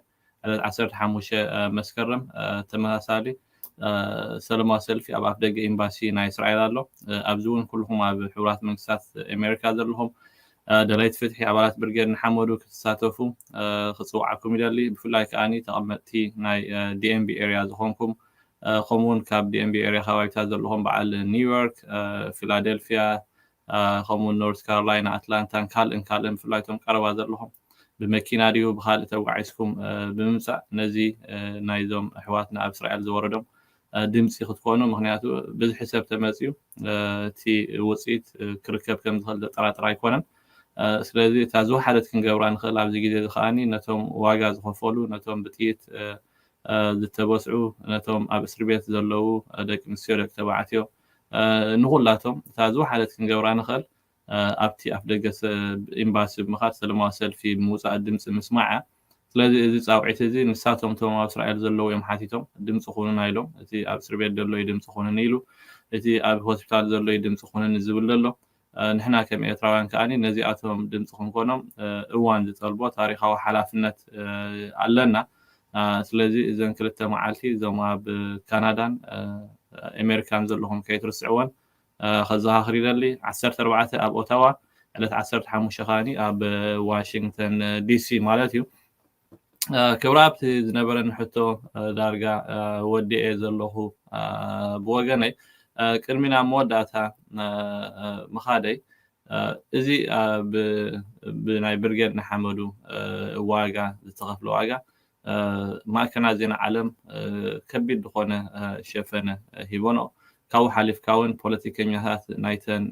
A: ዓሰርተ ሓሙሽተ መስከረም ተመሳሳሊ ሰለማዊ ሰልፊ ኣብ ኣፍደገ ኤምባሲ ናይ እስራኤል ኣሎ። ኣብዚ እውን ኩልኹም ኣብ ሕቡራት መንግስታት ኣሜሪካ ዘለኹም ደለይቲ ፍትሒ ኣባላት ብርጌድ ንሓመዱ ክትሳተፉ ክፅውዓኩም ይደሊ። ብፍላይ ከዓ ተቐመጥቲ ናይ ዲኤምቢ ኤሪያ ዝኾንኩም ከምኡውን ካብ ዲኤምቢ ኤሪያ ከባቢታት ዘለኹም በዓል ኒውዮርክ፣ ፊላደልፊያ፣ ከምኡውን ኖርዝ ካሮላይና፣ ኣትላንታን ካልእን ካልእን ብፍላይ እቶም ቀረባ ዘለኹም ብመኪና ድዩ ብኻልእ ተጓዒዝኩም ብምምጻእ ነዚ ናይዞም ኣሕዋትና ኣብ እስራኤል ዝወረዶም ድምጺ ክትኮኑ ምክንያቱ ብዝሒ ሰብ ተመጽዩ እቲ ውጽኢት ክርከብ ከም ዝኽእል ዘጠራጥር ኣይኮነን። ስለዚ እታ ዝወሓደት ክንገብራ ንኽእል ኣብዚ ግዜ እዚ ከኣኒ ነቶም ዋጋ ዝኸፈሉ ነቶም ብጥይት ዝተበስዑ ነቶም ኣብ እስርቤት ዘለዉ ደቂ ኣንስትዮ ደቂ ተባዕትዮ ንኹላቶም እታ ዝወሓደት ክንገብራ ንኽእል ኣብቲ ኣፍደገ ኤምባሲ ብምኻድ ሰለማዊ ሰልፊ ብምውጻእ ድምጺ ምስማዕ'ያ። ስለዚ እዚ ጻውዒት እዚ ንሳቶም እቶም ኣብ እስራኤል ዘለዉ እዮም ሓቲቶም ድምጺ ኩኑና ኢሎም። እቲ ኣብ እስርቤት ደሎ'ዩ ድምጺ ኩኑኒ ኢሉ፣ እቲ ኣብ ሆስፒታል ዘሎ'ዩ ድምጺ ኩኑኒ ዝብል ዘሎ። ንሕና ከም ኤርትራውያን ከኣ ነዚኣቶም ድምጺ ክንኮኖም እዋን ዝጠልቦ ታሪኻዊ ሓላፍነት ኣለና። ስለዚ እዘን ክልተ መዓልቲ እዞም ኣብ ካናዳን ኤመሪካን ዘለኹም ከይትርስዕወን ከዘኻኽር ይደሊ። ዓሰርተ ኣርባዕተ ኣብ ኦታዋ ዕለት ዓሰርተ ሓሙሽተ ከኣ ኣብ ዋሽንግተን ዲሲ ማለት እዩ። ክብራ ኣብቲ ዝነበረኒ ሕቶ ዳርጋ ወዲኤ ዘለኹ ብወገነይ ቅድሚ ናብ መወዳእታ ምኻደይ እዚ ብናይ ብርጌድ ንሓመዱ ዋጋ ዝተኸፍለ ዋጋ ማዕከናት ዜና ዓለም ከቢድ ዝኾነ ሸፈነ ሂቦኖ ካብኡ ሓሊፍካ እውን ፖለቲከኛታት ናይተን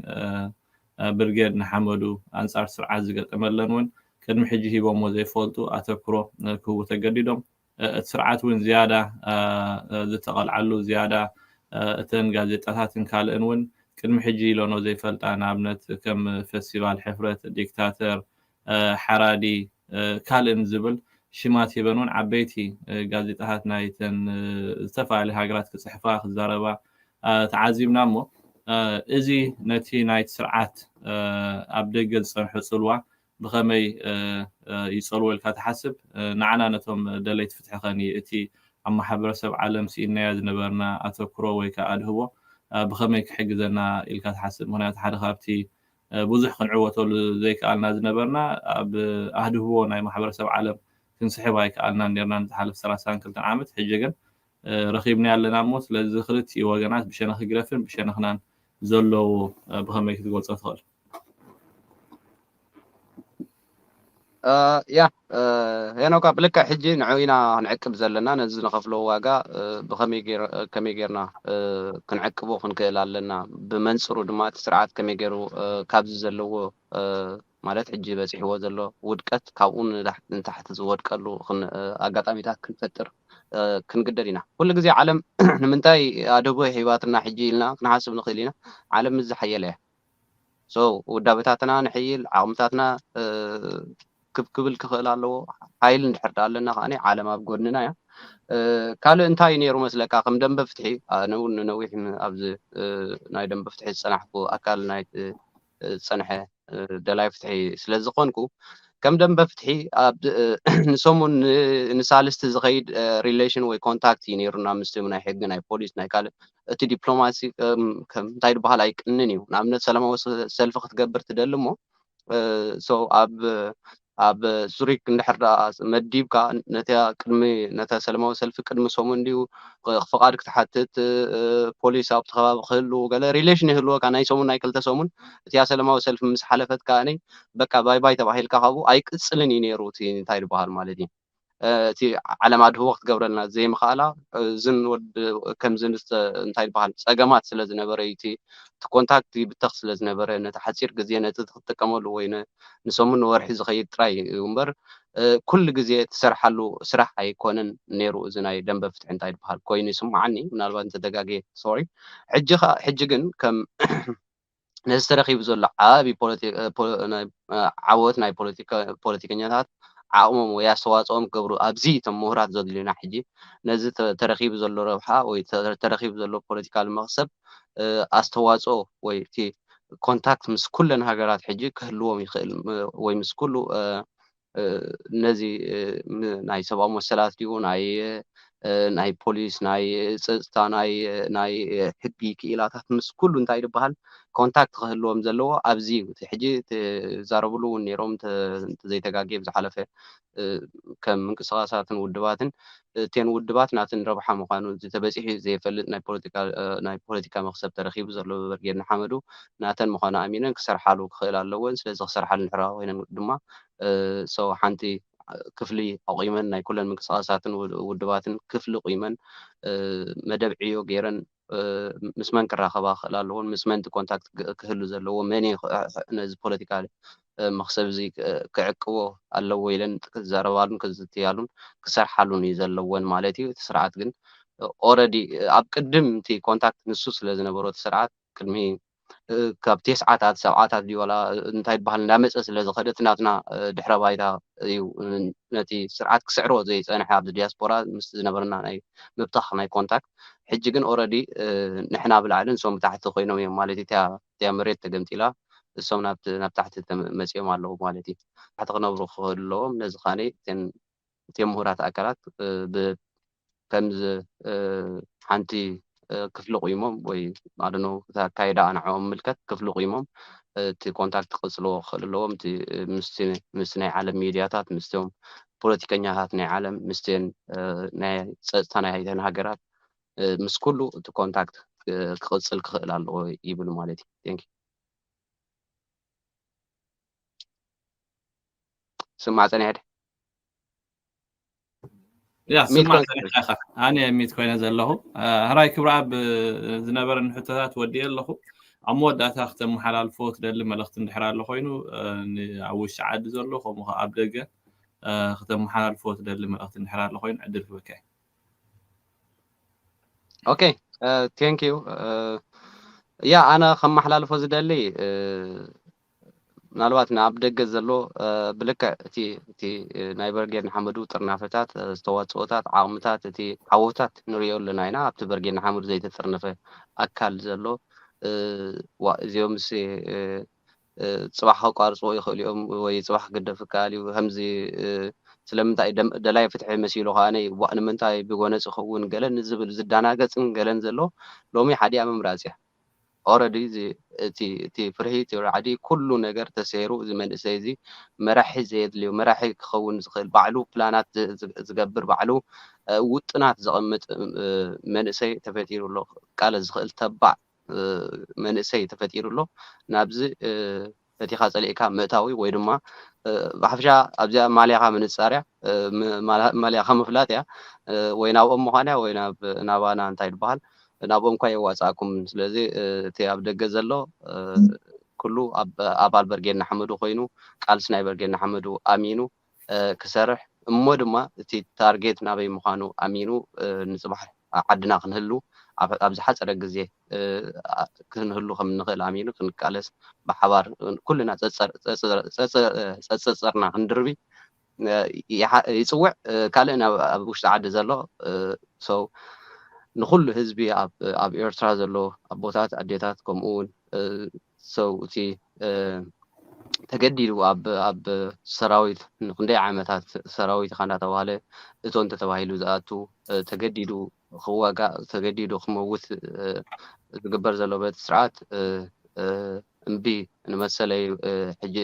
A: ብርጌድ ንሓመዱ ኣንጻር ስርዓት ዝገጠመለን ውን ቅድሚ ሕጂ ሂቦሞ ዘይፈልጡ ኣተኩሮ ክህቡ ተገዲዶም እቲ ስርዓት ውን ዝያዳ ዝተቐልዓሉ ዝያዳ እተን ጋዜጣታትን ካልእን ውን ቅድሚ ሕጂ ኢሎኖ ዘይፈልጣ ንኣብነት ከም ፈስቲቫል ሕፍረት ዲክታተር ሓራዲ ካልእን ዝብል ሽማት ሂበን እውን ዓበይቲ ጋዜጣታት ናይተን ዝተፈላለያ ሃገራት ክጽሕፋ ክዛረባ ተዓዚብና እሞ እዚ ነቲ ናይቲ ስርዓት ኣብ ደገ ዝጸንሖ ጽልዋ ብኸመይ ይጸልዎ ኢልካ ትሓስብ? ንዓና ነቶም ደለይቲ ፍትሒ ከ እቲ ኣብ ማሕበረሰብ ዓለም ስኢንናዮ ዝነበርና ኣተኩሮ ወይ ከኣ ኣድህቦ ብኸመይ ክሕግዘና ኢልካ ትሓስብ? ምኽንያቱ ሓደ ካብቲ ብዙሕ ክንዕወተሉ ዘይከኣልና ዝነበርና ኣብ ኣህድህቦ ናይ ማሕበረሰብ ዓለም ክንስሕብ ኣይከኣልናን ኔርና ንዝሓለፈ ሰላሳን ክልተን ዓመት ሕጂ ግን ረኺብናዮ ኣለና እሞ ስለዚ ክልቲኡ ወገናት ብሸነኽ ህግደፍን ብሸነኽናን ዘሎ ብኸመይ ክትገልጾ ትኽእል?
B: ያ ሄኖካ ብልክዕ ሕጂ ንዑ ኢና ክንዕቅብ ዘለና ነዚ ንኸፍሎ ዋጋ ብከመይ ከመይ ጌርና ክንዕቅቦ ክንክእል ኣለና ብመንፅሩ ድማ እቲ ስርዓት ከመይ ገይሩ ካብዚ ዘለዎ ማለት ሕጂ በፂሕዎ ዘሎ ውድቀት ካብኡ ንታሕቲ ዝወድቀሉ ኣጋጣሚታት ክንፈጥር ክንግደድ ኢና ኩሉ ግዜ ዓለም ንምንታይ ኣደቦ ሂባትና ሕጂ ኢልና ክንሓስብ ንኽእል ኢና ዓለም ምስ ዝሓየለ እያ ሶ ውዳበታትና ንሕይል ዓቕምታትና ክብ ክብል ክኽእል ኣለዎ ሓይል እንድሕር ደኣ ኣለና ከኣ ዓለም ኣብ ጎድንና እያ ካልእ እንታይ እዩ ነይሩ መስለካ ከም ደንበ ፍትሒ ኣነ እውን ንነዊሕ ኣብዚ ናይ ደንበ ፍትሒ ዝፀናሕኩ ኣካል ናይ ዝፀንሐ ደላይ ፍትሒ ስለ ዝኾንኩ ከም ደንበ ፍትሒ ንሰሙን ንሳልስቲ ዝኸይድ ሪሌሽን ወይ ኮንታክት እዩ ነይሩና ምስቲ ናይ ሕጊ ናይ ፖሊስ ናይ ካልእ እቲ ዲፕሎማሲ እንታይ ድበሃል ኣይቅንን እዩ ንኣብነት ሰላማዊ ሰልፊ ክትገብር ትደሊ እሞ ሰው ኣብ ኣብ ዙሪክ እንድሕር ደኣ መዲብካ ነታ ቅድሚ ነታ ሰለማዊ ሰልፊ ቅድሚ ሰሙን ድዩ ፍቓድ ክትሓትት ፖሊስ ኣብቲ ከባቢ ክህሉ ገለ ሪሌሽን ይህልወካ ናይ ሰሙን ናይ ክልተ ሰሙን እቲያ ሰለማዊ ሰልፊ ምስ ሓለፈት ከዓኒ በቃ ባይ ባይ ተባሂልካ ካብኡ ኣይቅፅልን እዩ ነይሩ እቲ እንታይ ዝበሃል ማለት እዩ እቲ ዓለም ኣድህቦ ክትገብረልና ዘይምኽኣላ እዝን ወድ ከምዚ እንታይ ይበሃል ጸገማት ስለ ዝነበረ እዩ እቲ ኮንታክት ይብተኽ ስለ ዝነበረ ነቲ ሓጺር ግዜ ነቲ ክትጥቀመሉ ወይ ንሰሙን ንወርሒ ዝኸይድ ጥራይ እዩ እምበር ኩሉ ግዜ ትሰርሓሉ ስራሕ ኣይኮነን ነይሩ እዚ ናይ ደንበ ፍትሒ እንታይ ይበሃል ኮይኑ ይስምዓኒ ምናልባት እንተተጋግየ ሶሪ ሕጂ ሕጂ ግን ከም ነዚ ተረኺቡ ዘሎ ዓቢ ዓወት ናይ ፖለቲከኛታት ዓቕሞም ወይ ኣስተዋጽኦም ክገብሩ ኣብዚ እቶም ምሁራት ዘድልዩና ሕጂ ነዚ ተረኺቡ ዘሎ ረብሓ ወይ ተረኺቡ ዘሎ ፖለቲካል መኽሰብ ኣስተዋጽኦ ወይ እቲ ኮንታክት ምስ ኩለን ሃገራት ሕጂ ክህልዎም ይኽእል ወይ ምስ ኩሉ ነዚ ናይ ሰብኣዊ መሰላት ድዩ ናይ ናይ ፖሊስ ናይ ፀፅታ ናይ ሕጊ ክኢላታት ምስ ኩሉ እንታይ ዝበሃል ኮንታክት ክህልዎም ዘለዎ ኣብዚ እዩ እቲ ሕጂ ትዛረብሉ እውን ነይሮም እንተዘይተጋጌ ብዝሓለፈ ከም ምንቅስቃሳትን ውድባትን እቴን ውድባት ናትን ረብሓ ምዃኑ እቲ ተበጺሑ ዘይፈልጥ ናይ ፖለቲካ መኽሰብ ተረኺቡ ዘሎ ብብርጌድ ንሓመዱ ናተን ምዃኑ ኣሚነን ክሰርሓሉ ክኽእላ ኣለወን። ስለዚ ክሰርሓሉ ድሕሪ ኮይነን ድማ ሰው ሓንቲ ክፍሊ ኣቑመን ናይ ኩለን ምንቅስቓሳትን ውድባትን ክፍሊ ቑመን መደብ ዕዮ ገይረን ምስ መን ክራኸባ ክኽእል ኣለዎን ምስ መን ኮንታክት ክህሉ ዘለዎ መን እዩ ነዚ ፖለቲካ መኽሰብ እዚ ክዕቅቦ ኣለዎ ኢለን ክዛረባሉን ክዝትያሉን ክሰርሓሉን እዩ ዘለወን ማለት እዩ። እቲ ስርዓት ግን ኦረዲ ኣብ ቅድም እቲ ኮንታክት ንሱ ስለ ዝነበሮ እቲ ስርዓት ቅድሚ ካብ ቴስዓታት ሰብዓታት ድዩ ዋላ እንታይ ይበሃል እንዳመጸ ስለ ዝኸደ እቲ ናትና ድሕረ ባይታ እዩ ነቲ ስርዓት ክስዕሮ ዘይጸንሐ ኣብዚ ዲያስፖራ ምስ ዝነበረና ናይ ምብታኽ ናይ ኮንታክት ሕጂ ግን ኦረዲ ንሕና ብላዕሊ ንሶም ብታሕቲ ኮይኖም እዮም ማለት እዩ እታ እቲኣ መሬት ተገምጢላ እሶም ናብቲ ናብ ታሕቲ መጺኦም ኣለዉ ማለት እዩ ታሕቲ ክነብሩ ክህልዎም ነዚ ካኒ እተን እቲም ምሁራት ኣካላት ብከም ሓንቲ ክፍሊ ቁይሞም ወይ ኣዶኖ ኣካይዳ ኣንዕኦም ምልከት ክፍሊ ቁይሞም እቲ ኮንታክት ክቕጽልዎ ክኽእል ኣለዎም እቲ ምስ ናይ ዓለም ሚድያታት ምስቶም ፖለቲከኛታት ናይ ዓለም ምስትን ናይ ጸጥታ ናይ ሃይተን ሃገራት ምስ ኩሉ እቲ ኮንታክት ክቕጽል ክኽእል ኣለዎ ይብል ማለት እዩ። ስማዕ ፀኒሐ ድዩ
A: ያ ሚት ስማዕ ኮይን ፀኒሐ ኢኻ ኣነ ሚት ኮይነ ዘለኹ አ፣ ህራይ ክብረኣብ ብ- ዝነበረኒ ሕቶታት ወዲኤ ኣለኹ ኣብ መወዳእታ ክተመሓላልፎ ትደሊ መልእኽቲ እንድሕር ኣሎ ኮይኑ አ፣ ን- ኣብ ውሽጢ ዓዲ ዘሎ ከምኡ ከዓ ኣብ ደገ አ፣ ክተመሓላልፎ ትደሊ መልእኽቲ እንድሕር ኣሎ ኮይኑ ዕድል ክበካ እዩ።
B: ኦኬ ቴንክ ዩ ያ ኣነ ከመሓላልፎ ዝደሊ እ፣ ምናልባት ንኣብ ደገ ዘሎ ብልክዕ እቲ እቲ ናይ በርጌድ ንሓመዱ ጥርናፈታት ዝተዋጽኦታት ዓቕምታት እቲ ዓወታት ንሪኦ ኣለና ኢና ኣብቲ በርጌድ ንሓመዱ ዘይተጥርነፈ ኣካል ዘሎ ዋ እዚኦምስ ጽባሕ ከቋርጽዎ ይኽእሉ እዮም ወይ ጽባሕ ክግደፍ ይከኣል እዩ ከምዚ ስለምንታይ ደላይ ፍትሒ መሲሉ ከኣነ ዋእ ንምንታይ ብጎነጽ ይኸውን ገለን ዝብል ዝዳናገጽን ገለን ዘሎ ሎሚ ሓዲኣ ምምራጽ እያ ኦረዲ እዚ እቲ እቲ ፍርሂ እቲ ራዕዲ ኩሉ ነገር ተሰይሩ እዚ መንእሰይ እዚ መራሒ ዘየድልዮ መራሒ ክኸውን ዝኽእል ባዕሉ ፕላናት ዝገብር ባዕሉ ውጥናት ዘቐምጥ መንእሰይ ተፈጢሩ ኣሎ ክቃለስ ዝኽእል ተባዕ መንእሰይ ተፈጢሩ ኣሎ ናብዚ ፈቲኻ ጸሊእካ ምእታው ወይ ድማ ብሓፈሻ ኣብዚኣ ማልያኻ ምንጻር እያ፣ ማልያኻ ምፍላጥ እያ፣ ወይ ናብኦም ምዃን እያ ወይ ናባና እንታይ ድበሃል ናብኦም እኳ የዋጽኣኩምን ስለዚ እቲ ኣብ ደገ ዘሎ ኩሉ ኣባል በርጌድ ንሓመዱ ኮይኑ ቃልሲ ናይ በርጌድ ንሓመዱ ኣሚኑ ክሰርሕ እሞ ድማ እቲ ታርጌት ናበይ ምዃኑ ኣሚኑ ንጽባሕ ኣብ ዓድና ክንህሉ ኣብ ዝሓጸረ ግዜ ክንህሉ ከም እንኽእል ኣሚኑ ክንቃለስ ብሓባር ኩልና ጸጸርና ክንድርቢ ይጽውዕ ካልእ ኣብ ውሽጢ ዓዲ ዘሎ ሰው ንኹሉ ህዝቢ ኣብ ኤርትራ ዘሎ ኣቦታት ኣዴታት ከምኡ ውን ሰውእቲ ተገዲዱ ኣብ ኣብ ሰራዊት ንክንደይ ዓመታት ሰራዊት ኢኻ እንዳተባህለ እቶ እንተተባሂሉ ዝኣቱ ተገዲዱ ክዋጋእ ተገዲዱ ክመውት ዝግበር ዘሎ በቲ ስርዓት እምቢ ንመሰለይ ሕጂ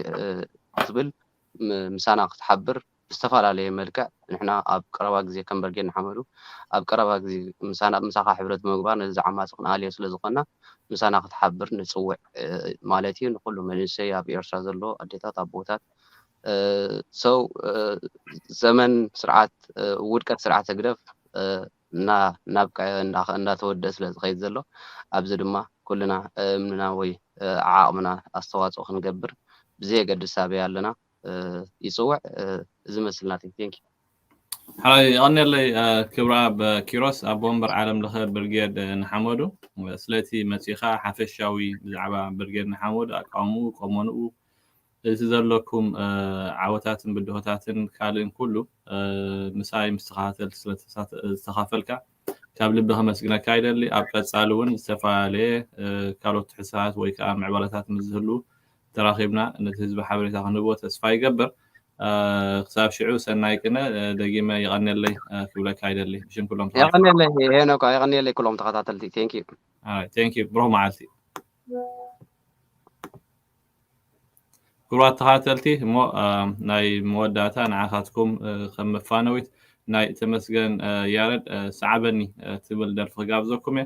B: ክትብል ምሳና ክትሓብር ብዝተፈላለየ መልክዕ ንሕና ኣብ ቀረባ ግዜ ከም በርጌድ ንሓመዱ ኣብ ቀረባ ግዜ ምሳና ምሳኻ ሕብረት ብምግባር ነዚ ዓማጺ ክንኣልዮ ስለ ዝኾንና ምሳና ክትሓብር ንጽውዕ ማለት እዩ ንኹሉ መንእሰይ ኣብ ኤርትራ ዘሎ ኣዴታት ኣቦታት so ዘመን ስርዓት ውድቀት ስርዓት ህግደፍ እና ናብቀ እንዳተወድእ ስለ ዝኸይድ ዘሎ ኣብዚ ድማ ኩልና እምንና ወይ ዓዓቕምና ኣስተዋጽኦ ክንገብር ብዘየገድስ ኣበይ ኣለና ይፅውዕ እዚ መስል ናተይ ቴንክ ዩ። ሓወይ
A: የቐንየለይ ክብረኣብ ኪሮስ ኣቦ ወንበር ዓለም ለኸ ብርጌድ ንሓመዱ ስለቲ መጺእኻ ሓፈሻዊ ብዛዕባ ብርጌድ ንሓመዱ ኣቃውምኡ ቆመንኡ እቲ ዘለኩም ዓወታትን ብድሆታትን ካልእን ኩሉ ምሳይ ምስ ተኸታተል ስለዝተኻፈልካ ካብ ልቢ ከመስግነካ ይደሊ ኣብ ቀጻሊ እውን ዝተፈላለየ ካልኦት ትሕሳት ወይ ከዓ ምዕባለታት ምስ ዝህሉ ተራኺብና ነቲ ህዝቢ ሓበሬታ ክንህቦ ተስፋ ይገብር። ክሳብ ሽዑ ሰናይ ቅነ ደጊመ የቐንየለይ ክብለካ ይደሊ ብሽም ኩሎም ተኸታተልቲ። የቐንየለይ ሄኖካ
B: የቐንየለይ ኩሎም ተኸታተልቲ ቴንክ ዩ። ቴንክ ዩ ብሩኽ
A: መዓልቲ። ክቡራት ተኸታተልቲ እሞ ናይ መወዳእታ ንዓኻትኩም ከም መፋነዊት ናይ ተመስገን ያረድ ሰዓበኒ ትብል ደርፊ ክጋብዘኩም እየ